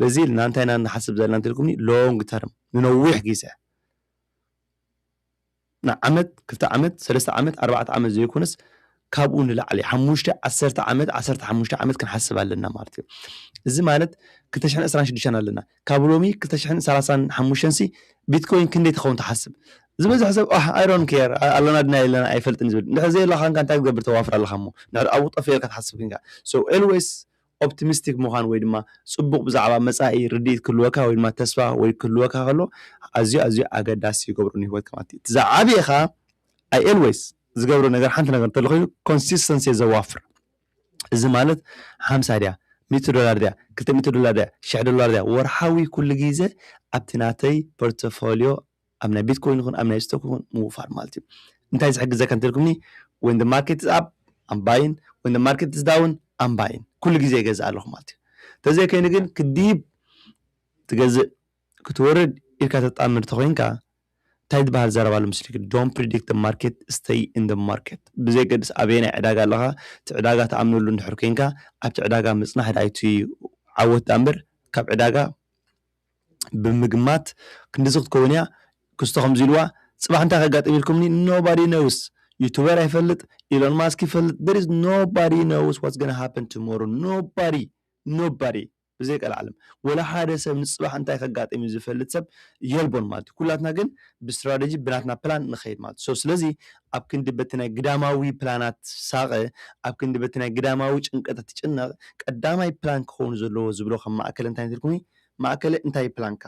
በዚ ኢልና እንታይ ኢና ንሓስብ ዘለና እንተልኩምኒ long term ንነዊሕ ግዜ ንዓመት ክልተ ዓመት ሰለስተ ዓመት ኣርባዕተ ዓመት ዘይኮነስ ካብኡ ንላዕሊ ሓሙሽተ ዓሰርተ ዓመት ዓሰርተ ሓሙሽተ ዓመት ክንሓስብ ኣለና ማለት እዩ እዚ ማለት ክልተ ሽሕን ዕስራን ሽዱሽተን ኣለና ካብ ሎሚ ክልተ ሽሕን ሰላሳን ሓሙሽተን ሲ ቢትኮይን ክንደይ ትኸውን ትሓስብ ዝበዝሕ ሰብ ኣሕ ኣይሮን ኬር ኣለና ድና የለና ኣይፈልጥን ዝብል እንድሕር ዘየላኻንካ እንታይ ክትገብር ተዋፍር ኣለኻ እሞ እንድሕር ኣብኡ ጠፊኤልካ ትሓስብ ክንካ ሶ ኤልዌይስ Optimistic ምዃን ወይ ድማ ጽቡቕ ብዛዕባ መጻኢ ርድኢት ክህልወካ ወይ ድማ ተስፋ ወይ ክህልወካ ከሎ ኣዝዩ ኣዝዩ ኣገዳሲ ይገብሮ ንህይወትካ ማለት እዩ። እቲ ዝዓበየኻ I always ዝገብሮ ነገር ሓንቲ ነገር እንተሎ ኮይኑ Consistency እየ ዘዋፍር እዚ ማለት ሓምሳ ድያ ሚእቲ ዶላር ድያ ክልተ ሚእቲ ዶላር ድያ ሽሕ ዶላር ድያ ወርሓዊ ኩሉ ግዜ ኣብቲ ናተይ Portfolio ኣብ ናይ ቢትኮይን ይኹን ኣብ ናይ ስቶክ ይኹን ምውፋር ማለት እዩ እንታይ ዝሕግዘካ እንተልኩምኒ ወን ደ ማርኬት ዝ ኣፕ ኣምባይን ወን ደ ማርኬት ዝ ዳውን ኣምባይን ኩሉ ግዜ ይገዝእ ኣለኹ ማለት እዩ ተዘይ ከይኑ ግን ክዲብ ትገዝእ ክትወርድ ኢልካ ተጣምር ተኮይንካ እንታይ ዝበሃል ዘረባ ኣሎ ምስልክ ዶን ፕሪዲክት ደ ማርኬት ስተይ ኢን ደ ማርኬት ብዘይገድስ ኣበየ ናይ ዕዳጋ ኣለኻ እቲ ዕዳጋ ተኣምነሉ እንድሕር ኮንካ ኣብቲ ዕዳጋ ምፅናሕ ዳይቱ ዓወት ዳምበር ካብ ዕዳጋ ብምግማት ክንድዚ ክትከውን እያ ክስቶ ከምዚ ኢልዋ ጽባሕ እንታይ ከጋጥም ኢልኩምኒ nobody knows ዩቱበር ኣይፈልጥ ኢሎን ማስክ ይፈልጥ there is nobody knows what's gonna happen tomorrow nobody nobody ብዘይ ቀልዓለም ወላ ሓደ ሰብ ንጽባሕ እንታይ ከጋጥም እዩ ዝፈልጥ ሰብ የልቦን ማለት እዩ ኩላትና ግን ብስትራቴጂ ብናትና ፕላን ንኸይድ ማለት እዩ ስለዚ ኣብ ክንዲ በቲ ናይ ግዳማዊ ፕላናት ትሳቐ፣ ኣብ ክንዲ በቲ ናይ ግዳማዊ ጭንቀታት ትጭነቕ፣ ቀዳማይ ፕላን ክኸውን ዘለዎ ዝብሎ ከም ማእከለ እንታይ ትርጉም እዩ? ማእከለ እንታይ እዩ ፕላንካ?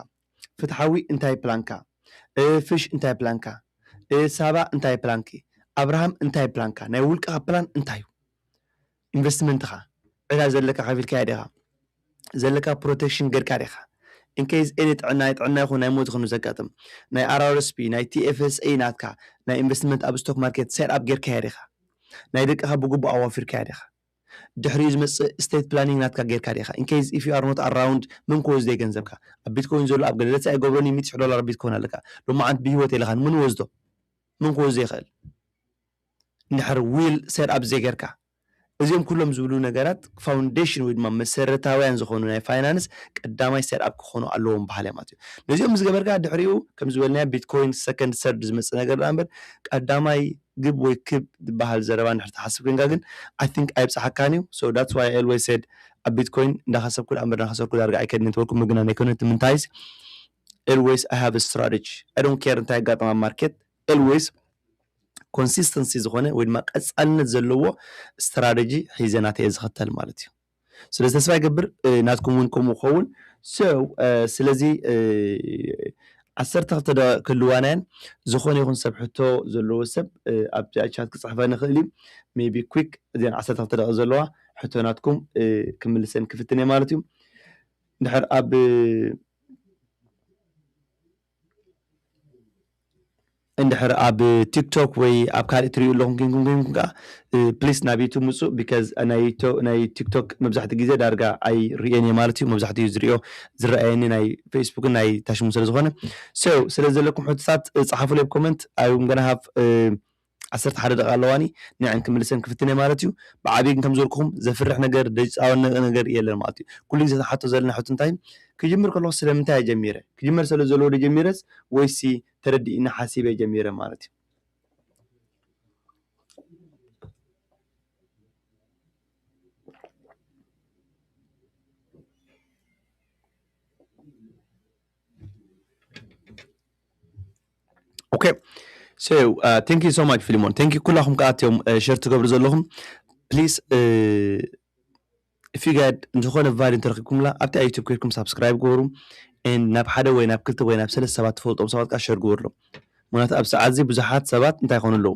ፍትሓዊ እንታይ ፕላንካ? ፍሽ እንታይ ፕላንካ? ሳባ እንታይ ፕላንኪ? ኣብርሃም እንታይ ፕላንካ? ናይ ውልቅኻ ፕላን እንታይ እዩ? ኢንቨስትመንትኻ ዕዳ ዘለካ ከፊልካዮ ዲኻ ዘለካ ፕሮተክሽን ገርካ ዲኻ ኢንከይዝ ኤኒ ጥዕና ናይ ጥዕና ይኹን ናይ ሞት ይኹን ዘጋጥም ናይ ኣራርስፒ ናይ ቲኤፍኤስኤ ናትካ ናይ ኢንቨስትመንት ኣብ ስቶክ ማርኬት ሴት ኣፕ ገርካያ ዲኻ ናይ ደቅኻ ብግቡእ ኣዋፊርካያ ዲኻ ድሕሪኡ ዝመጽእ እስቴት ፕላኒንግ ናትካ ገርካ ዲኻ ኢንከይዝ ኢፍ ዩ ኣር ኖት ኣራውንድ መን ክወስዶዩ ገንዘብካ ኣብ ቢትኮይን ዘሎ ኣብ ገለለቲ ኣይገብሮን ዩ ሚት ሽሕ ዶላር ኣብ ቢትኮይን ኣለካ ሎማዓንቲ ብሂወት የለኻን መን ወስዶ መን ክወስዶ ይኽእል እንድሕር ዊል ሴት ኣፕ ዘይገርካ እዚኦም ኩሎም ዝብሉ ነገራት ፋውንዴሽን ወይ ድማ መሰረታውያን ዝኾኑ ናይ ፋይናንስ ቀዳማይ ሴት ኣፕ ክኾኑ ኣለዎም በሃላይ ማለት እዩ ነዚኦም ምስ ገበርካ ድሕሪኡ ከም ዝበልናዮ ቢትኮይን ሰከንድ ሰርድ ዝመጽእ ነገር ደኣ እምበር ቀዳማይ ግብ ወይ ክብ ዝበሃል ዘረባ እንድሕር ትሓስብ ኮይንካ ግን ኣይ ቲንክ ኣይብጽሓካን እዩ ሶ ዳትስ ዋይ ኣይ ኦልወይስ ሴድ ኣብ ቢትኮይን እንዳኸሰብኩ ደኣ እምበር እንዳኸሰርኩ ዳርጋ ኣይከድን ኔትወርኩ ምግናን ኣይኮነን እቲ ምንታይስ ኦልወይስ ኣይ ሃቭ ስትራተጂ ኣይ ዶንት ኬር እንታይ የጋጥም ኣብ ማርኬት ኤልዌይስ ኮንሲስተንሲ ዝኾነ ወይ ድማ ቀጻልነት ዘለዎ ስትራተጂ ሒዘ ናተይ እየ ዝኸተል ማለት እዩ ስለዚ ተስፋ ይገብር ናትኩም እውን ከምኡ ክኸውን ሰው ስለዚ ዓሰርተ ክልተ ደቂቕ ክህልዋናየን ዝኾነ ይኹን ሰብ ሕቶ ዘለዎ ሰብ ኣብዚኣ ቻት ክፅሕፈኒ ይኽእል እዩ ሜቢ ኩክ እዚን ዓሰርተ ክልተ ደቂቕ ዘለዋ ሕቶ ናትኩም ክምልሰን ክፍትን እየ ማለት እዩ እንድሕር ኣብ እንድሕር ኣብ ቲክቶክ ወይ ኣብ ካልእ ትሪኡ ኣለኹም ኮንኩም ኮንኩም ከኣ ፕሊስ ናብ ዩቱብ ምጹ ቢካዝ ናይ ናይ ቲክቶክ መብዛሕትኡ ግዜ ዳርጋ ኣይርእዮን እየ ማለት እዩ መብዛሕትኡ ዝርእዮ ዝረኣየኒ ናይ ፌስቡክን ናይ ታሽሙ ስለ ዝኾነ ሶ ስለ ዘለኩም ሕቶታት ጸሓፉለይ ኣብ ኮመንት ኣይ ኣም ጋና ሃቭ ዓሰርተ ሓደ ደቓ ኣለዋኒ ንዐን ክምልሰን ክፍትንየ ማለት እዩ ብዓብይ ግን ከምዝበልኩኹም ዘፍርሕ ነገር ደይጻወነቅ ነገር የለን ማለት እዩ ኩሉ ግዜ ክንሓቶ ዘለና ሕቶ እንታይ እዩ ክጅምር ከለኹ ስለምንታይ እየ ጀሚረ ክጅመር ሰለዘለዎ ዶ ጀሚረስ ወይሲ ተረዲኢኒ ሓሲበ ጀሚረ ማለት እዩ። ኦኬ ቴንክ ሶ ማች ፊልሞን ቴንክ ኩላኹም ከዓ እትዮም ሸር ትገብሩ ዘለኹም ፕሊስ ፊጋድ ዝኾነ ቫል እንተረኪብኩምላ ኣብቲ ኣብ ዩቱብ ኮይድኩም ሳብስክራይብ ግበሩ ናብ ሓደ ወይ ናብ ክልተ ወይ ናብ ሰለስተ ሰባት ትፈልጦም ሰባት ከዓ ሸር ግበሩ ኣሎም ምክንያቱ ኣብ ሰዓት እዚ ብዙሓት ሰባት እንታይ ይኾኑ ኣለዉ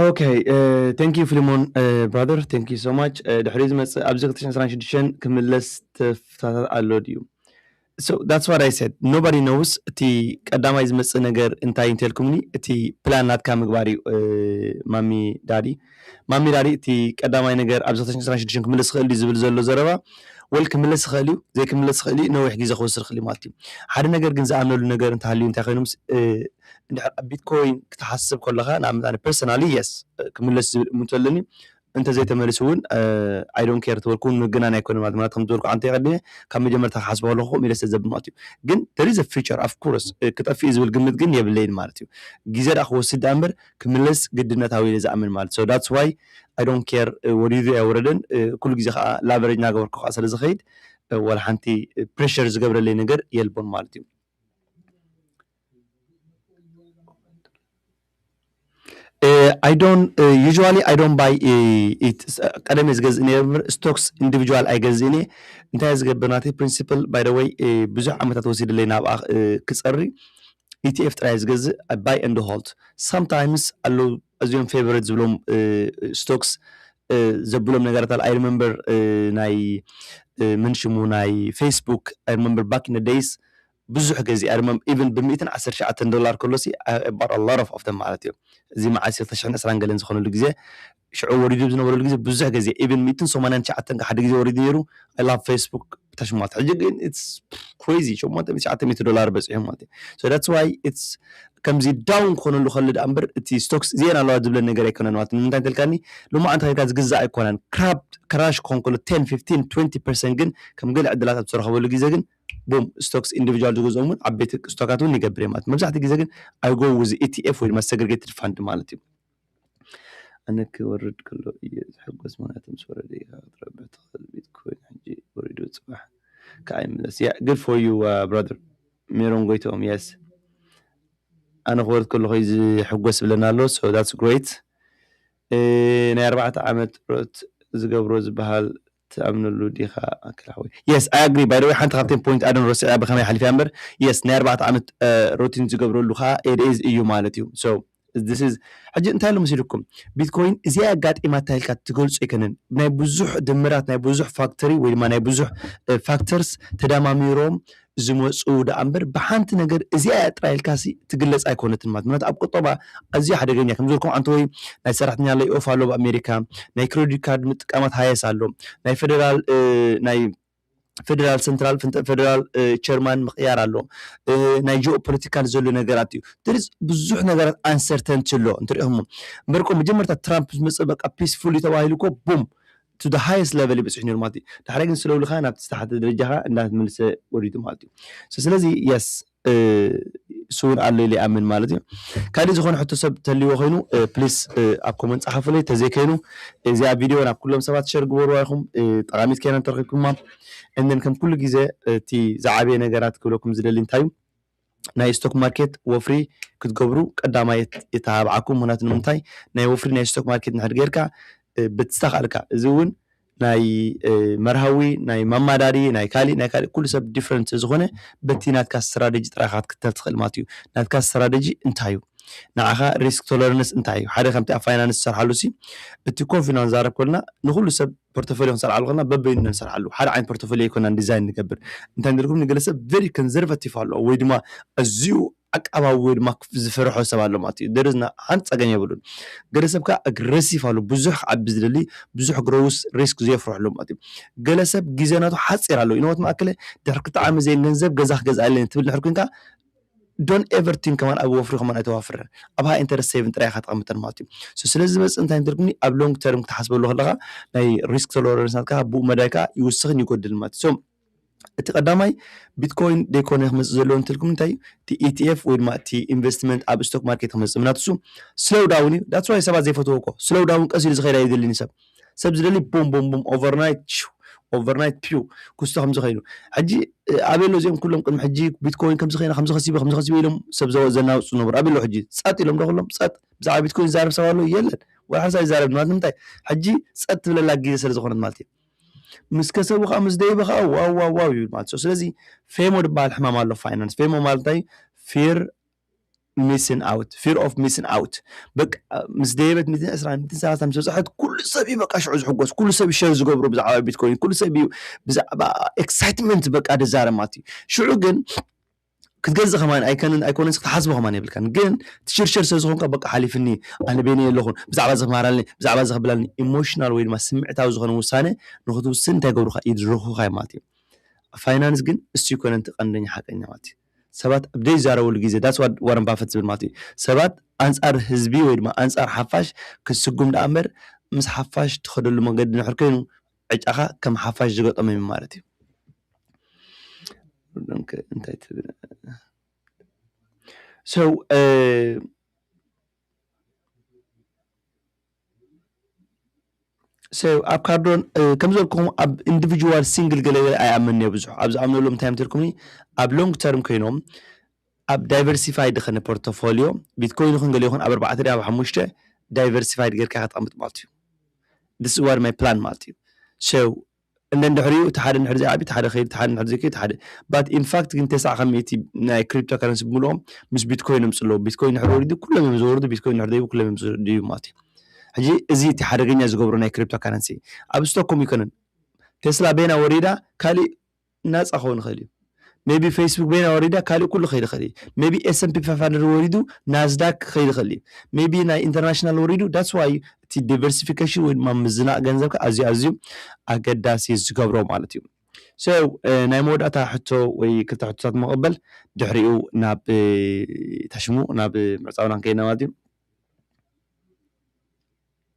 ኦከ ቴንኪዩ ፍሊሞን ብራዘር ቴንኪዩ ሶ ማች ድሕሪ ዝመፅእ ኣብዚ ክልተ ሽሕን ዕስራን ሽዱሽተን ክምለስ ተፍታታት ኣሎ ድዩ ሶ ዳትስ ዋት ኣይ ሰድ ኖባዲ ኖውስ እቲ ቀዳማይ ዝመፅእ ነገር እንታይ እንተልኩምኒ እቲ ፕላን ናትካ ምግባር እዩ ማሚ ዳዲ ማሚ ዳዲ እቲ ቀዳማይ ነገር ኣብዚ ክልተ ሽሕን ዕስራን ሽዱሽተን ክምለስ ይኽእል ድዩ ዝብል ዘሎ ዘረባ ወል ክምለስ ይኽእል እዩ ዘይክምለስ ይኽእል እዩ ነዊሕ ግዜ ክወስድ ይኽእል እዩ ማለት እዩ ሓደ ነገር ግን ዝኣምነሉ ነገር እንተሃልዩ እንታይ ኮይኑ ምስ እንድሕር ኣብ ቢትኮይን ክትሓስብ ከለኻ ንኣብነት ኣነ ፐርሰናሊ yes ክምለስ ዝብል እምንቶ ኣለኒ እንተዘይተመሊሱ እውን ኣይ ዶንት ኬር ተበልኩ እውን ምግናን ኣይኮነን ማለት ማለት ከም ዝበልኩ ዓንተ ይቐድሜ ካብ መጀመርታ ክሓስቦ ከለኹ ከምኡ ኢለ ስለዘብል ማለት እዩ ግን there is a future of course ክጠፍእ እዩ ዝብል ግምት ግን የብለይን ማለት እዩ ግዜ ደኣ ክወስድ ደኣ እምበር ክምለስ ግድነታዊ ኢለ ዝኣምን ማለት so that's why ኣይ ዶንት ኬር ወሪዱ ኣይወረደን ኩሉ ግዜ ከዓ ላቨሬጅ እናገበርኩ ከዓ ስለ ዝኸይድ ወላ ሓንቲ ፕሬሸር ዝገብረለይ ነገር የልቦን ማለት እዩ ኣይ ዶን ዩዥዋሊ ኣይ ዶን ባይ ኢት ቀደም እየ ዝገዝእ ነይረ እምበር ስቶክስ ኢንዲቪጁዋል ኣይገዝእን እየ እንታይ ዝገብር ናተይ ፕሪንሲፕል ባይ ወይ ብዙሕ ዓመታት ወሲድለይ ናብኣ ክፀሪ ኢቲኤፍ ጥራይ ዝገዝእ ባይ ኤንድ ሆልድ ሳምታይምስ ኣለዉ ኣዝዮም ፌቨሬት ዝብሎም ስቶክስ ዘብሎም ነገራት ኣል ኣይ ሪመምበር ናይ ምን ሽሙ ናይ ፌስቡክ ኣይ ሪመምበር ባክ ኢን ዘ ደይስ ብዙሕ ግዜ ኣይ ሪመምበር ኢቨን ብሚእትን ዓሰርተ ትሽዓተን ዶላር ከሎሲ ኣይ ባውት ኣ ሎት ኦፍ ኦፍ ዘም ማለት እዩ እዚ መዓስ እዩ ክልተ ሽሕን ዕስራን ገለን ዝኾነሉ ግዜ ሽዑ ወሪዱ ኣብ ዝነበረሉ ግዜ ብዙሕ ግዜ ኢቨን ሚእትን ሰማንያን ትሽዓተን ሓደ ግዜ ወሪዱ ነይሩ ኣይ ላቭ ፌስቡክ ተሽሟት ሕጂ ግን ኢትስ ክሬዚ ሸሞንተ ሚእቲ ትሽዓተ ሚእቲ ዶላር በጺሑ ማለት እዩ ሶ ዳትስ ዋይ ኢትስ ከምዚ ዳውን ክኾነሉ ከሎ ደኣ እምበር እቲ ስቶክስ እዚኤን ኣለዋ ዝብለን ነገር ኣይኮነን ማለት ንምንታይ እንተልካኒ ሎማዓንቲ ከይድካ ዝግዛእ ኣይኮነን ክራብ ክራሽ ክኾን ከሎ 10 15 20 ፐርሰንት ግን ከም ገለ ዕድላት ኣብ ዝተረኸበሉ ግዜ ግን ቡም ስቶክስ ኢንዲቪጁዋል ዝገዝኦም እውን ዓበይቲ ስቶካት እውን ይገብር እየ ማለት መብዛሕትኡ ግዜ ግን ኣይጎ ውዝ ኢቲኤፍ ወይ ድማ ሰግሪጌትድ ፋንድ ማለት እዩ ኣነ ክወርድ ከሎ እየ ዝሕጎስ ምክንያቱ ምስ ወረደ ኢካ ክትረብሕ ትክእል ቤት ኮይኑ ሕጂ ወሪዱ ፅባሕ ካዓ ይምለስ yeah good for you brother ሜሮን ጎይትኦም yes ኣነ ክወርድ ከለኩ እዩ ዝሕጎስ ብለና ኣሎ so that's great ናይ ኣርባዕተ ዓመት ጥሮት ዝገብሮ ዝበሃል ትኣምነሉ ዲኻ ኣከለ ሓወይ። Yes I agree by the way ሓንቲ ካብተን ፖይንት ኣደን ረሲዐያ ብከመይ ሓሊፈያ እምበር Yes ናይ ኣርባዕተ ዓመት ሩቲን ዝገብረሉ ከኣ it is እዩ ማለት እዩ so this is ሕጂ እንታይ ኣሎ መሲልኩም ቢትኮይን እዚኣ እያ ኣጋጢማታ ኢልካ ትገልጾ ኣይከነን ናይ ብዙሕ ድምራት ናይ ብዙሕ ፋክተሪ ወይ ድማ ናይ ብዙሕ ፋክተርስ ተዳማሚሮም ዝመጹ ደኣ እምበር ብሓንቲ ነገር እዚኣ እያ ጥራይ ኢልካሲ ትግለጽ ኣይኮነትን ማለት ምክንያቱ ኣብ ቁጠባ ኣዝዩ ሓደገኛ ከም ዝበልኩም ኣንተወይ ናይ ሰራሕተኛ ለይ ኦፍ ኣሎ ኣብ ኣሜሪካ ናይ ክረዲት ካርድ ምጥቃማት ሃየስ ኣሎ ናይ ፈደራል ናይ ፈደራል ሰንትራል ፈደራል ቸርማን ምቕያር ኣሎ ናይ ጂኦ ፖለቲካል ዘሎ ነገራት እዩ ድርዝ ብዙሕ ነገራት ኣንሰርተንቲ ኣሎ እንትሪኦሞ እምበርኮ መጀመርታ ትራምፕ ዝመፀ በቃ ፒስፉል እዩ ተባሂሉ ኮ ቡም to the highest level እዩ በፂሑ ነይሩ ማለት እዩ ዳሕራይ ግን ስለው ኢሉ ከኣ ናብቲ ዝተሓተ ደረጃ ከኣ እንዳተመልሰ ወሪዱ ማለት እዩ so ስለዚ yes እሱ እውን ኣሎ ኢለ ይኣምን ማለት እዩ ካልእ ዝኾነ ሕቶ ሰብ ተልዎ ኮይኑ ፕሊስ ኣብ ኮመንት ጸሓፉለይ ተዘይ ከይኑ እዚኣ ቪድዮ ናብ ኩሎም ሰባት ሸር ግበርዋ ኢኹም ጠቓሚት ከይና እንተረኺብኩማ እንን ከም ኩሉ ግዜ እቲ ዝዓበየ ነገራት ክብለኩም ዝደሊ እንታይ እዩ ናይ ስቶክ ማርኬት ወፍሪ ክትገብሩ ቀዳማይ የተባብዓኩም ምክንያቱ ንምንታይ ናይ ወፍሪ ናይ ስቶክ ማርኬት ንሕድ ጌርካ ብዝተካእልካ እዚ እውን ናይ መርሃዊ ናይ ማማዳሪ ናይ ካሊእ ናይ ካሊእ ኩሉ ሰብ ዲፍረንት ስለዝኾነ በቲ ናትካ ስትራቴጂ ጥራይ ኢካ ክትከተል ትኽእል ማለት እዩ ናትካ ስትራቴጂ እንታይ እዩ ንዓኻ ሪስክ ቶለርንስ እንታይ እዩ ሓደ ከምቲ ኣብ ፋይናንስ ዝሰርሓሉ ሲ እቲ ኮፊና ንዛረብ ከሎና ንኩሉ ሰብ ፖርቶፎልዮ ክንሰርሓሉ ከለና በበይኑ ኢና ንሰርሓሉ ሓደ ዓይነት ፖርቶፎልዮ ኣይኮናን ዲዛይን ንገብር እንታይ ንገርኩም ንገለ ሰብ ቨሪ ኮንዘርቫቲቭ ኣለዎ ወይ ድማ ኣዝዩ ዓቃባዊ ወይ ድማ ዝፈርሖ ሰብ ኣሎ ማለት እዩ there is no- ሓንቲ ፀገም የብሉን ገለ ሰብ ከዓ ኣግረሲቭ ኣሎ ብዙሕ ክዓቢ ዝደሊ ብዙሕ ግሮውስ ሪስክ ዘየፍርሑ ኣለዉ ማለት እዩ ገለ ሰብ ግዜ ናቱ ሓፂር ኣለዉ ኢነ ወት መኣከለ ድሕሪ ክልተ ዓመት ዘይን ገንዘብ ገዛ ክገዝኣለይ እየ ትብል እንድሕር ኮይንካ ዶን ኤቨር ቲንክ ከማን ኣብ ወፍሪ ከማን ኣይተዋፍርን ኣብ ሃይ ኢንተረስት ሴቪን ጥራይ ኢኻ ተቐምጠን ማለት እዩ ሶ ስለዚ ዝመጽእ እንታይ እንትርጉምኒ ኣብ ሎንግ ተርም ክትሓስበሉ ከለኻ ናይ ሪስክ ቶለረንስ ናትካ ብኡ መዳይ ከዓ ይውስኽን ይጎድልን ማለት እዩ ሶ እቲ ቀዳማይ ቢትኮይን ደይኮነ ክመፅእ ዘለዎ እንትልኩም እንታይ እዩ እቲ ኢቲኤፍ ወይ ድማ እቲ ኢንቨስትመንት ኣብ ስቶክ ማርኬት ክመፅእ ምናትሱ ስሎው ዳውን እዩ ዳትስ ዋይ ሰባት ዘይፈትዎ እኮ ስሎው ዳውን ቀስ ኢሉ ዝኸዳ የድልኒ ሰብ ሰብ ዝደሊ ቦም ቦም ቦም ኦቨርናይት ሽው ኦቨርናይት ፒው ክስቶ ከምዚ ከይኑ ሕጂ ኣበይ ኣሎ እዚኦም ኩሎም ቅድሚ ሕጂ ቢትኮይን ከምዚ ከይና ከምዚ ከሲበ ከምዚ ከሲበ ኢሎም ሰብ ዘናውፅ ዝነበሩ ኣበይ ኣሎ ሕጂ ፀጥ ኢሎም ዶ ኩሎም ፀጥ ብዛዕባ ቢትኮይን ዝዛረብ ሰብ ኣሎ የለን ወላ ሓንሳ ይዛረብ ማለት ንምንታይ ሕጂ ፀጥ ትብለላ ግዜ ስለ ዝኾነት ማለት እዩ ምስ ከሰቡ ከዓ ምስ ደይበ ከዓ ዋው ዋው ዋው ይብል ማለት እዩ ስለዚ ፌሞ ዝበሃል ሕማም ኣሎ ፋይናንስ ፌሞ ማለት እንታይ ፊር ሚስን ኣውት ፊር ኦፍ ሚስን ኣውት በቃ ምስ ደየበት ሚትን ዕስራ ሚትን ሰላሳ ምስ በፅሐት ኩሉ ሰብ እዩ በቃ ሽዑ ዝሕጎስ ኩሉ ሰብ እዩ ሸር ዝገብሮ ብዛዕባ ቢትኮይን ኩሉ ሰብ እዩ ብዛዕባ ኤክሳይትመንት በቃ ደዛረብ ማለት እዩ ሽዑ ግን ክትገዝእ ከማን ኣይከንን ኣይኮነን ክትሓስቦ ከማን የብልካን ግን ትሽርሸር ስለ ዝኾንካ በቃ ሓሊፍኒ ኣነ በይነ የለኹን ብዛዕባ እዚ ክመሃራልኒ ብዛዕባ እዚ ክብላልኒ ኢሞሽናል ወይ ድማ ስምዕታዊ ዝኾነ ውሳነ ንክትውስን እንታይ ገብሩካ ይድርኹካ ማለት እዩ ፋይናንስ ግን እሱ ይኮነን እቲ ቀንደኛ ሓቀኛ ማለት እዩ ሰባት ኣብ ዘይዛረብሉ ግዜ that's what Warren Buffett ዝብል ማለት እዩ ሰባት ኣንጻር ህዝቢ ወይ ድማ ኣንጻር ሓፋሽ ክትስጉም ደኣ እምበር ምስ ሓፋሽ ትኸደሉ መንገዲ ድሕር ኮይኑ ዕጫኻ ከም ሓፋሽ ዝገጠሞም እዩ ማለት እዩ እንታይ ትብል ሰው ሰ ኣብ ካርዶን ከም ዘልኩም ኣብ ኢንዲቪጁዋል ሲንግል ገለገለ ኣይኣምን እየ ብዙሕ ኣብ ዝኣምነሎም እንታይ ምትልኩምኒ ኣብ ሎንግ ተርም ኮይኖም ኣብ ዳይቨርሲፋይድ ኸነ ፖርቶፎሊዮ ቢትኮይን ይኹን ገለ ይኹን ኣብ ኣርባዕተ ደ ኣብ ሓሙሽተ ዳይቨርሲፋይድ ጌርካ ከተቐምጥ ማለት እዩ ዲስ ዋር ማይ ፕላን ማለት እዩ ሰው and then ድሕሪኡ እቲ ሓደ እንድሕር ዘይዓቢ እቲ ሓደ ከይድ እቲ ሓደ እንድሕር ዘይከይድ እቲ ሓደ but in fact ግን ተስዓ ካብ ሚእቲ ናይ ክሪፕቶ ካረንሲ ብምልኦም ምስ ቢትኮይን እዮም ጽለዉ ቢትኮይን ድሕር ወሪዱ ኩሎም እዮም ዝወርዱ ቢትኮይን ድሕር ደይቡ ኩሎም እዮም ዝድዩ ማለት እዩ ሕጂ እዚ እቲ ሓደገኛ ዝገብሮ ናይ ክሪፕቶ ካረንሲ ኣብ ስቶኮም ይኮነን ቴስላ በይና ወሪዳ ካሊእ ናጻ ክኸውን ይኽእል እዩ ሜቢ ፌስቡክ በይና ወሪዳ ካልእ ኩሉ ክኸይድ ይኽእል እዩ ሜቢ ኤስምፒ ፋይፍ ሃንድረድ ወሪዱ ናዝዳክ ክኸይድ ይኽእል እዩ ሜቢ ናይ ኢንተርናሽናል ወሪዱ ዳትስ ዋይ እቲ ዲቨርሲፊኬሽን ወይ ድማ ምዝናቕ ገንዘብካ ኣዝዩ ኣዝዩ ኣገዳሲ ዝገብሮ ማለት እዩ ሶ ናይ መወዳእታ ሕቶ ወይ ክልተ ሕቶታት መቐበል ድሕሪኡ ናብ ታሽሙ ናብ ምዕፃውና ከይና ማለት እዩ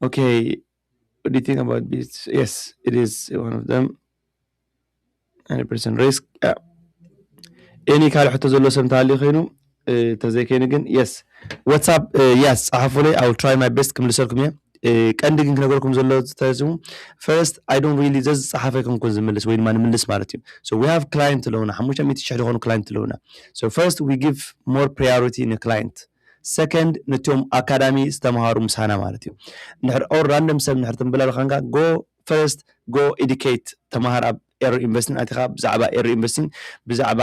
Okay, what do you think about this? Yes, it is one of them. 100% risk. Yeah. Any kind of ዘሎ ሰም ተሃልዩ ኮይኑ ተዘይከይኑ ግን የስ ዋትሳፕ የስ ፀሓፉለይ ኣው ትራይ ማይ ቤስት ክምልሰልኩም እየ ቀንዲ ግን ክነገርኩም ዘሎ ተስሙ ፈርስት ኣይ ዶንት ሪሊ ዘዚ ፀሓፈ ክንኩን ዝምልስ ወይ ድማ ንምልስ ማለት እዩ ሶ ዊ ሃቭ ክላይንት ኣለውና ሓሙሽተ ሚእቲ ሽሕ ዝኾኑ ክላይንት ኣለውና ሶ ፈርስት ዊ ጊቭ ሞር ፕሪዮሪቲ ንክላይንት ሰከንድ ነቶም ኣካዳሚ ዝተምሃሩ ምሳና ማለት እዩ እንድሕር ኦር ራንደም ሰብ እንድሕር ትንብለል ኻንካ ጎ ፈርስት ጎ ኤዲኬት ተምሃር ኣብ ኤሮ ኢንቨስቲን ኣቲኻ ብዛዕባ ኤሮ ኢንቨስቲን ብዛዕባ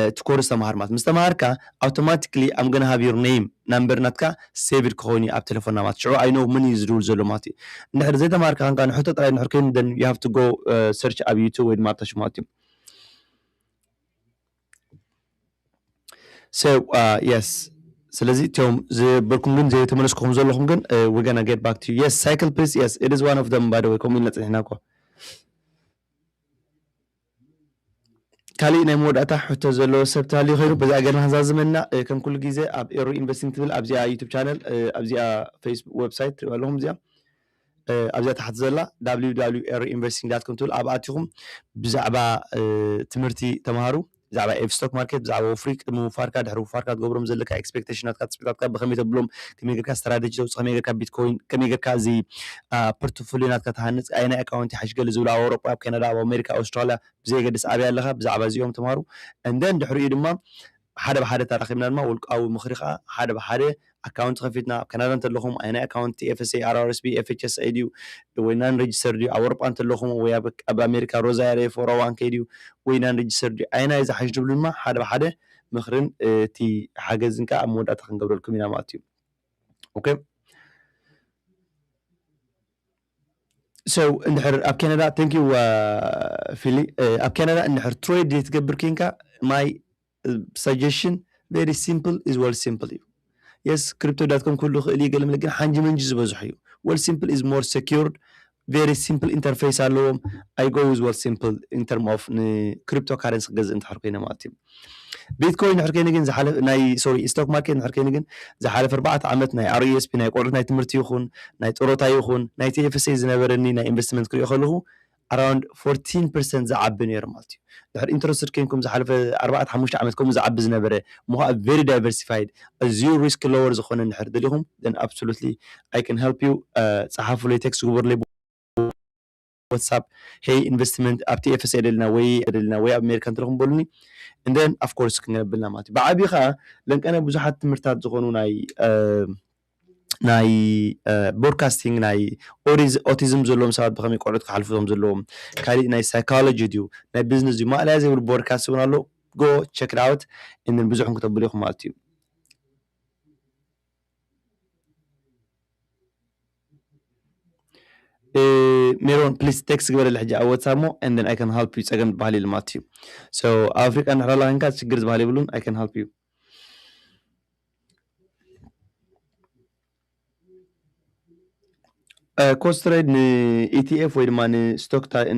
እቲ ኮርስ ተምሃር ማለት ምስ ተምሃርካ ኣውቶማቲክሊ ኣም ገና ሃቭ ዮር ነይም ናምበር ናትካ ሴቭድ ክኸውን እዩ ኣብ ቴሌፎንና ማለት ሽዑ ኣይ ኖው መን እዩ ዝድውል ዘሎ ማለት እዩ እንድሕር ዘይተምሃርካ ኻንካ ንሕቶ ጥራይ እንድሕር ኮይኑ ደን ዩ ሃቭ ቱ ጎ ሰርች ኣብ ዩቱብ ወይ ድማ ኣብታሽ ማለት እዩ So uh, yes ስለዚ እቶም ዝበልኩም ግን ዘይተመለስኩ ከም ዘለኹም ግን we're gonna get back to you yes cycle please yes it is one of them by the way ከምኡ ኢልና ፅኒሕና እኮ ካሊእ ናይ መወዳእታ ሕቶ ዘለዎ ሰብ ተሃልዩ ኮይኑ በዚኣ ገርና ክንዛዝመና ከም ኩሉ ግዜ ኣብ ኤሮ ኢንቨስቲንግ ትብል ኣብዚኣ ዩቱብ ቻነል ኣብዚኣ ፌስቡክ ዌብሳይት ትሪእዋ ኣለኹም እዚኣ ኣብዚኣ ታሕቲ ዘላ www investing dot com ትብል ኣብኣ ኣቲኹም ብዛዕባ ትምህርቲ ተምሃሩ ብዛዕባ ኤፍ ስቶክ ማርኬት ብዛዕባ ወፍሪ ቅድሚ ምውፋርካ ድሕሪ ውፋርካ ትገብሮም ዘለካ ኤክስፔክቴሽናትካ ትፅቢታትካ ብከመይ ተብሎም ከመይ ጌርካ ስትራቴጂ ተውፅእ ከመይ ጌርካ ቢትኮይን ከመይ ጌርካ እዚ ፖርትፎሊዮ ናትካ ትሃንፅ ኣየናይ ኣካውንቲ ይሓይሽ ገለ ዝብሉ ኣብ ኣውሮጳ ኣብ ካናዳ ኣብ ኣሜሪካ ኣውስትራልያ ብዘየገድስ ኣበይ ኣለካ ብዛዕባ እዚኦም ተምሃሩ እንደን ድሕሪኡ ድማ ሓደ ብሓደ ተራኺብና ድማ ውልቃዊ ምኽሪ ከኣ ሓደ ብሓደ ኣካውንቲ ከፊትና ኣብ ካናዳ እንተለኹም ኣየናይ ኣካውንቲ TFSA፣ RRSP፣ FHSA ድዩ ወይ ናን ረጅስተርድ ድዩ ኣብ ኣውሮጳ እንተለኹም ወይ ኣብ ኣሜሪካ Roth IRA፣ ፎር ኦዋን ኬይ ድዩ ወይ ናን ረጅስተርድ ድዩ ኣየናይ እዩ ዝሓሽ ትብሉ ድማ ሓደ ብሓደ ምኽርን እቲ ሓገዝን ከኣ ኣብ መወዳእታ ክንገብረልኩም ኢና ማለት እዩ። ኦኬ። ሰው እንድሕር ኣብ ካናዳ thank you ፊሊ ኣብ ካናዳ እንድሕር ትሬድ ዘይትገብር ኬንካ ማይ ሳጀሽን ቨሪ ሲምፕል ኢዝ ወል ሲምፕል እዩ የስ ክሪፕቶ ዳት ኮም ክህሉ ክእል እዩ ገለመለ ግን ሓንጂ መንጂ ዝበዝሑ እዩ ወል ሲምፕል ኢዝ ሞር ሴኪርድ ቨሪ ሲምፕል ኢንተርፌስ ኣለዎም ኣይ ጎ ዊዝ ወል ሲምፕል ኢን ተርም ኦፍ ንክሪፕቶ ካረንሲ ክገዝእ እንድሕር ኮይነ ማለት እዩ ቢትኮይን ድሕሪ ከይኑ ግን ዝሓለፈ ናይ ሶሪ ስቶክ ማርኬት ድሕሪ ከይኑ ግን ዝሓለፈ ኣርባዕተ ዓመት ናይ RESP ናይ ቆልዑት ናይ ትምህርቲ ይኹን ናይ ጥሮታ ይኹን ናይ TFSA ዝነበረኒ ናይ ኢንቨስትመንት ክሪኦ ከለኹ ኣራውንድ 14 ፐርሰንት ዝዓቢ ነይሩ ማለት እዩ ድሕሪ ኢንተረስትድ ከይንኩም ዝሓለፈ ኣርባዕተ ሓሙሽተ ዓመት ከምኡ ዝዓቢ ዝነበረ እሞ ከዓ ቨሪ ዳይቨርሲፋይድ ኣዝዩ ሪስክ ሎወር ዝኾነ እንድሕር ደሊኹም then absolutely I can help you ፀሓፉለይ ቴክስት ግበሩለይ ዋትሳፕ ሄይ ኢንቨስትመንት ኣብ TFSA የደልና ወይ የደልና ወይ ኣብ ኣሜሪካ እንትረኽቡ በሉኒ and then of course ክንገ ኣብልና ማለት እዩ ብዓብዩ ከኣ ለንቀነ ብዙሓት ትምህርታት ዝኾኑ ናይ ናይ ቦድካስቲንግ ናይ ኦቲዝም ዘለዎም ሰባት ብከመይ ቆልዑት ክሓልፉ ዞም ዘለዎም ካሊእ ናይ ሳይኮሎጂ ድዩ ናይ ቢዝነስ ድዩ ማእለያ ዘይብሉ ቦድካስት እውን ኣሎ ጎ ቸክ ኣውት እንን ብዙሕ ክተብሉ ኢኹም ማለት እዩ ሜሮን ፕሊስ ቴክስት ግበረለ ሕጂ ኣብ ዋትሳፕ ሞ and then I can help you ጸገም ዝበሃል የለን ማለት እዩ so ኣብ ኣፍሪቃ እንድሕር ኣላ ኮንካ ችግር ዝበሃል የብሉን I can help you ኮስት ትሬድ ንኢቲኤፍ ወይ ድማ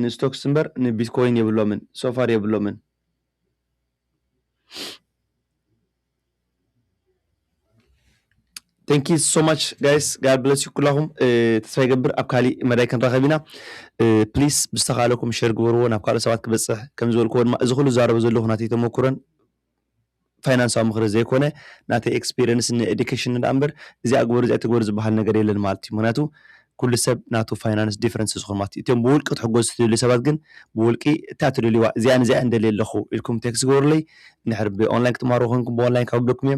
ንስቶክስ እምበር ንቢትኮይን የብሎምን ሶፋር የብሎምን ቴንኪ ሶ ማች ጋይስ ጋድ ብለስ ዩ ኩላኹም ተስፋ ይገብር ኣብ ካሊእ መዳይ ክንራኸብ ኢና ፕሊስ ብዝተኻለኩም ሸር ግበርዎ ናብ ካልኦት ሰባት ክበፅሕ ከም ዝበልክዎ ድማ እዚ ኩሉ ዛረቦ ዘለኹ ናተይ ተመኩረን ፋይናንሳዊ ምኽሪ ዘይኮነ ናተይ ኤክስፔሪንስ ንኤዱኬሽን ዳ እምበር እዚኣ ግበሩ እዚኣ ትግበሩ ዝበሃል ነገር የለን ማለት እዩ ምክንያቱ ኩሉ ሰብ ናቱ ፋይናንስ ዲፍረንስ ዝኮን ማለት እዩ። እቶም ብውልቂ ክትሕጎዙ ትደልዩ ሰባት ግን ብውልቂ እታ ትደልይዋ እዚኣን እዚኣን ደልየ ኣለኩ ኢልኩም ቴክስት ግበሩለይ እንድሕር ብ ኦንላይን ክትማሃሩ ኮይንኩም ብ ኦንላይን ከውርደኩም እየ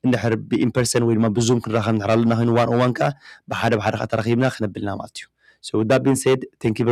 እንድሕር ብ ኢንፐርሰን ወይ ድማ ብ ዙም ክንራከብ እንድሕር ኣለና ኮይኑ ዋን ኦን ዋን ከኣ ብሓደ ብሓደ ከኣ ተራኪብና ክነብል ኢና ማለት እዩ so with that being said thank you very much።